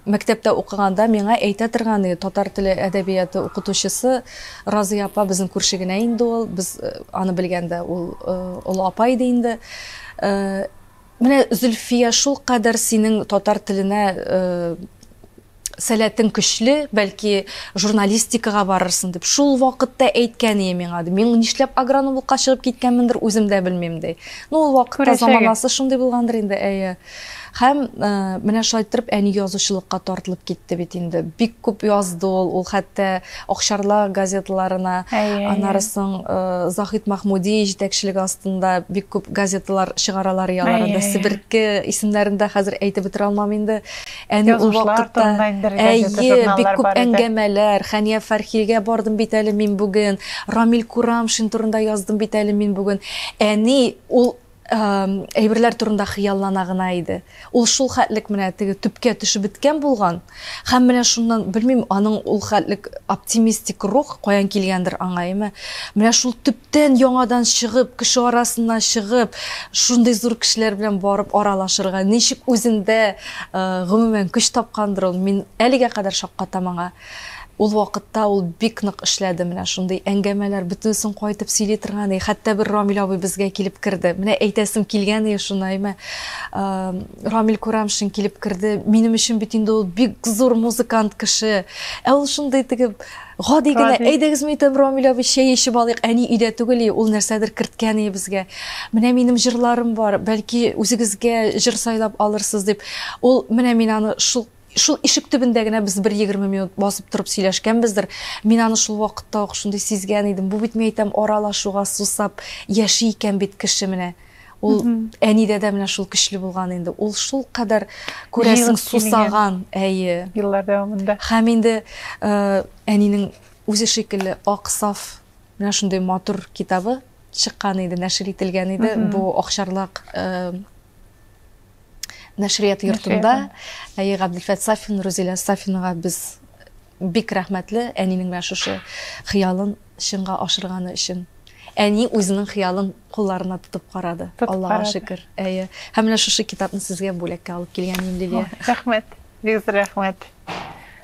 мәктәптә укыганда миңа әйтә торган иде татар теле әдәбияты укытучысы Разия апа безнең күрше генә инде ул без э, аны белгәндә ул э, олы апа иде инде э, Менә Зөлфия шулкадәр синең татар теленә сәләтең көчле, бәлки журналистикага барырсың дип шул вакытта әйткән ие миңа. Мин нишләп агрономлыкка чыгып киткәнмендер, үзем дә белмим ди. Ну ул вакытта заманасы шундый булгандыр инде, әйе. Һәм менә шулай иттереп әни язучылыкка тартылып китте бит инде. Бик күп язды ул, ул хәтта Акчарла газеталарына, аннары соң Заһит Махмуди җитәкчелеге астында бик күп газеталар чыгаралар яларында. Себерке исемнәрен дә хәзер әйтеп бетерә алмам инде. Әни ул вакытта әйе, бик күп әңгәмәләр, Хәния Фәрхигә бардым бит әле мин бүген, Рамил Курамшин турында яздым бит әле мин бүген. Әни ул әйберләр турында хыяллана гына иде. Ул шул хәтлек менә теге төпкә төшеп беткән булган. Һәм менә шуннан, белмим, аның ул хәтлек оптимистик рух каян килгәндер аңа, әмма менә шул төптән яңадан чыгып, кеше арасына чыгып, шундый зур кешеләр белән барып аралашырга ничек үзендә, гомумән, көч тапкандыр ул, мин әлегә кадәр шаккатам аңа. Ул вакытта ул бик нык эшләде, менә шундый әңгәмәләр бөтенесен кайтып сөйли торган и, хәтта бер Рамил абый безгә килеп керде. Менә әйтәсем килгән и шуны, имә Рамил Курамшин килеп керде, минем өчен бит инде ул бик зур музыкант кеше. Ә ул шундый теге гади генә, әйдәгез мин әйтәм Рамил абый чәй эчеп алыйк, әни өйдә түгел и, ул нәрсәдер керткән и безгә. Менә минем җырларым бар, бәлки үзегезгә җыр сайлап алырсыз дип. Ул менә мин аны шул Шул ишек төбендә генә без бер егерме минут басып торып сөйләшкәнбездер. Мин аны шул вакытта ук шундый сизгән идем. Бу бит, мин әйтәм, аралашуга сусап яши икән бит кеше менә. Ул әнидә дә менә шул көчле булган инде. Ул шулкадәр, күрәсең, сусаган, әйе. Еллар дәвамында. Һәм инде әнинең үзе шикелле ак, саф, менә шундый матур китабы чыккан иде, нәшер ителгән иде. Бу Акчарлак нәшрият йортында әйе габделфәт сафин рузилә сафинага без бик рәхмәтле әнинең менә шушы хыялын чынга ашырганы өчен әни үзенең хыялын кулларына тотып карады аллага шөкер әйе һәм менә шушы китапны сезгә бүләккә алып килгән мин лилия рәхмәт бик зур рәхмәт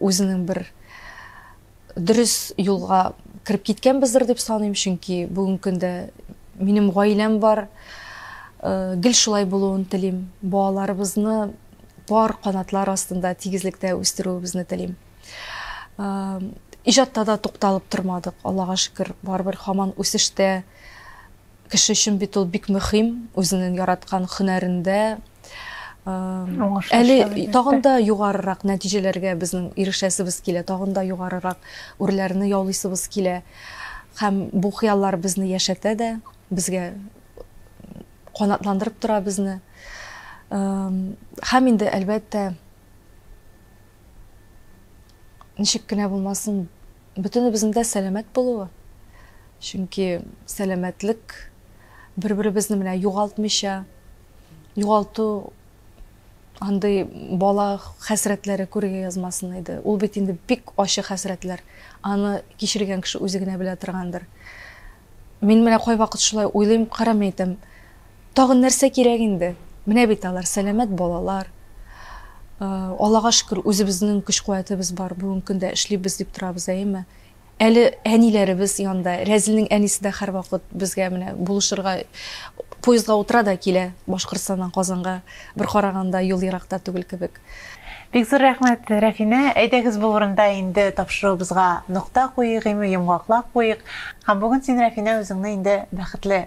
Үзенең бер дөрес юлга кереп киткәнбездер дип саныйм, чөнки бүгенге көндә минем гаиләм бар. Гел шулай булуын телим. Балаларыбызны пар канатлар астында тигезлектә үстерүебезне телим. Иҗатта да тукталып тормадык, Аллага шөкер, барыбер һаман үсештә. Кеше өчен бит ул бик мөһим, үзенең яраткан һөнәрендә әле тагын да югарырак нәтиҗәләргә безнең ирешәсебез килә, тагын да югарырак үрләрне яулыйсыбыз килә. Һәм бу хыяллар безне яшәтә дә, безгә канатландырып тора безне. Һәм инде, әлбәттә, ничек кенә булмасын, бөтенебезнең дә сәламәт булуы. Чөнки сәламәтлек бер-беребезне менә югалтмыйча, югалту андый бала хәсрәтләре күрергә язмасын иде. Ул бит инде бик ачы хәсрәтләр. Аны кичергән кеше үзе генә белә торгандыр. Мин менә кайвакыт шулай уйлыйм, карамый әйтәм, тагын нәрсә кирәк инде? Менә бит алар, сәламәт балалар. Аллага шөкер, үзебезнең көч-куәтебез бар, бүгенге көндә эшлибез дип торабыз, әйеме? Әле әниләребез янда, Рәзилнең әнисе дә һәрвакыт безгә менә булышырга, поездга утыра да килә Башкортстаннан Казанга, бер караганда юл еракта түгел кебек. Бик зур рәхмәт, Рәфинә! Әйдәгез бу урында инде тапшыруыбызга нокта куйыйк, гыйме йомгаклап куйыйк. Һәм бүген син, Рәфинә, үзеңне инде бәхетле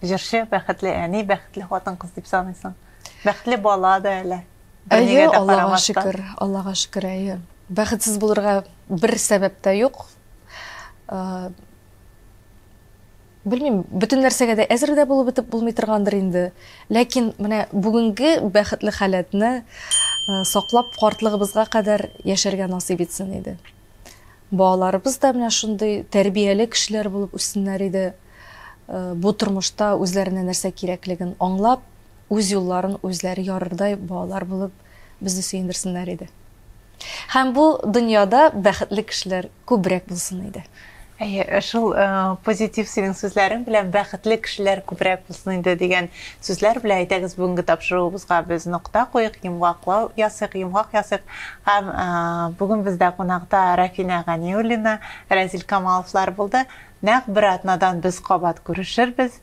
җырчы, бәхетле әни, бәхетле хатын-кыз дип саныйсың. Бәхетле бала да әле. Әйе, Аллага шөкер, Аллага шөкер, әйе. Бәхетсез булырга бер сәбәп тә юк. Белмим, бөтен нәрсәгә дә әзер дә булып бетеп булмый торгандыр инде. Ләкин менә бүгенге бәхетле халәтне саклап картлыгыбызга кадәр яшәргә насыйп итсен иде. Балаларыбыз да менә шундый тәрбияле кешеләр булып үссеннәр иде. Бу тормышта үзләренә нәрсә кирәклеген аңлап, үз юлларын үзләре ярырдай балалар булып безне сөендерсеннәр иде. Һәм бу дөньяда бәхетле кешеләр күбрәк булсын иде. Әйе, э, шул э, позитив синең сүзләрең белән бәхетле кешеләр күбрәк булсын инде дигән сүзләр белән әйдәгез бүгенге тапшыруыбызга без нокта куйык, йомгаклау ясыйк, йомгак ясыйк. Һәм э, бүген бездә кунакта Рафина Ганиуллина, Рәзил Камаловлар булды. Нәкъ бер атнадан без кабат күрешербез.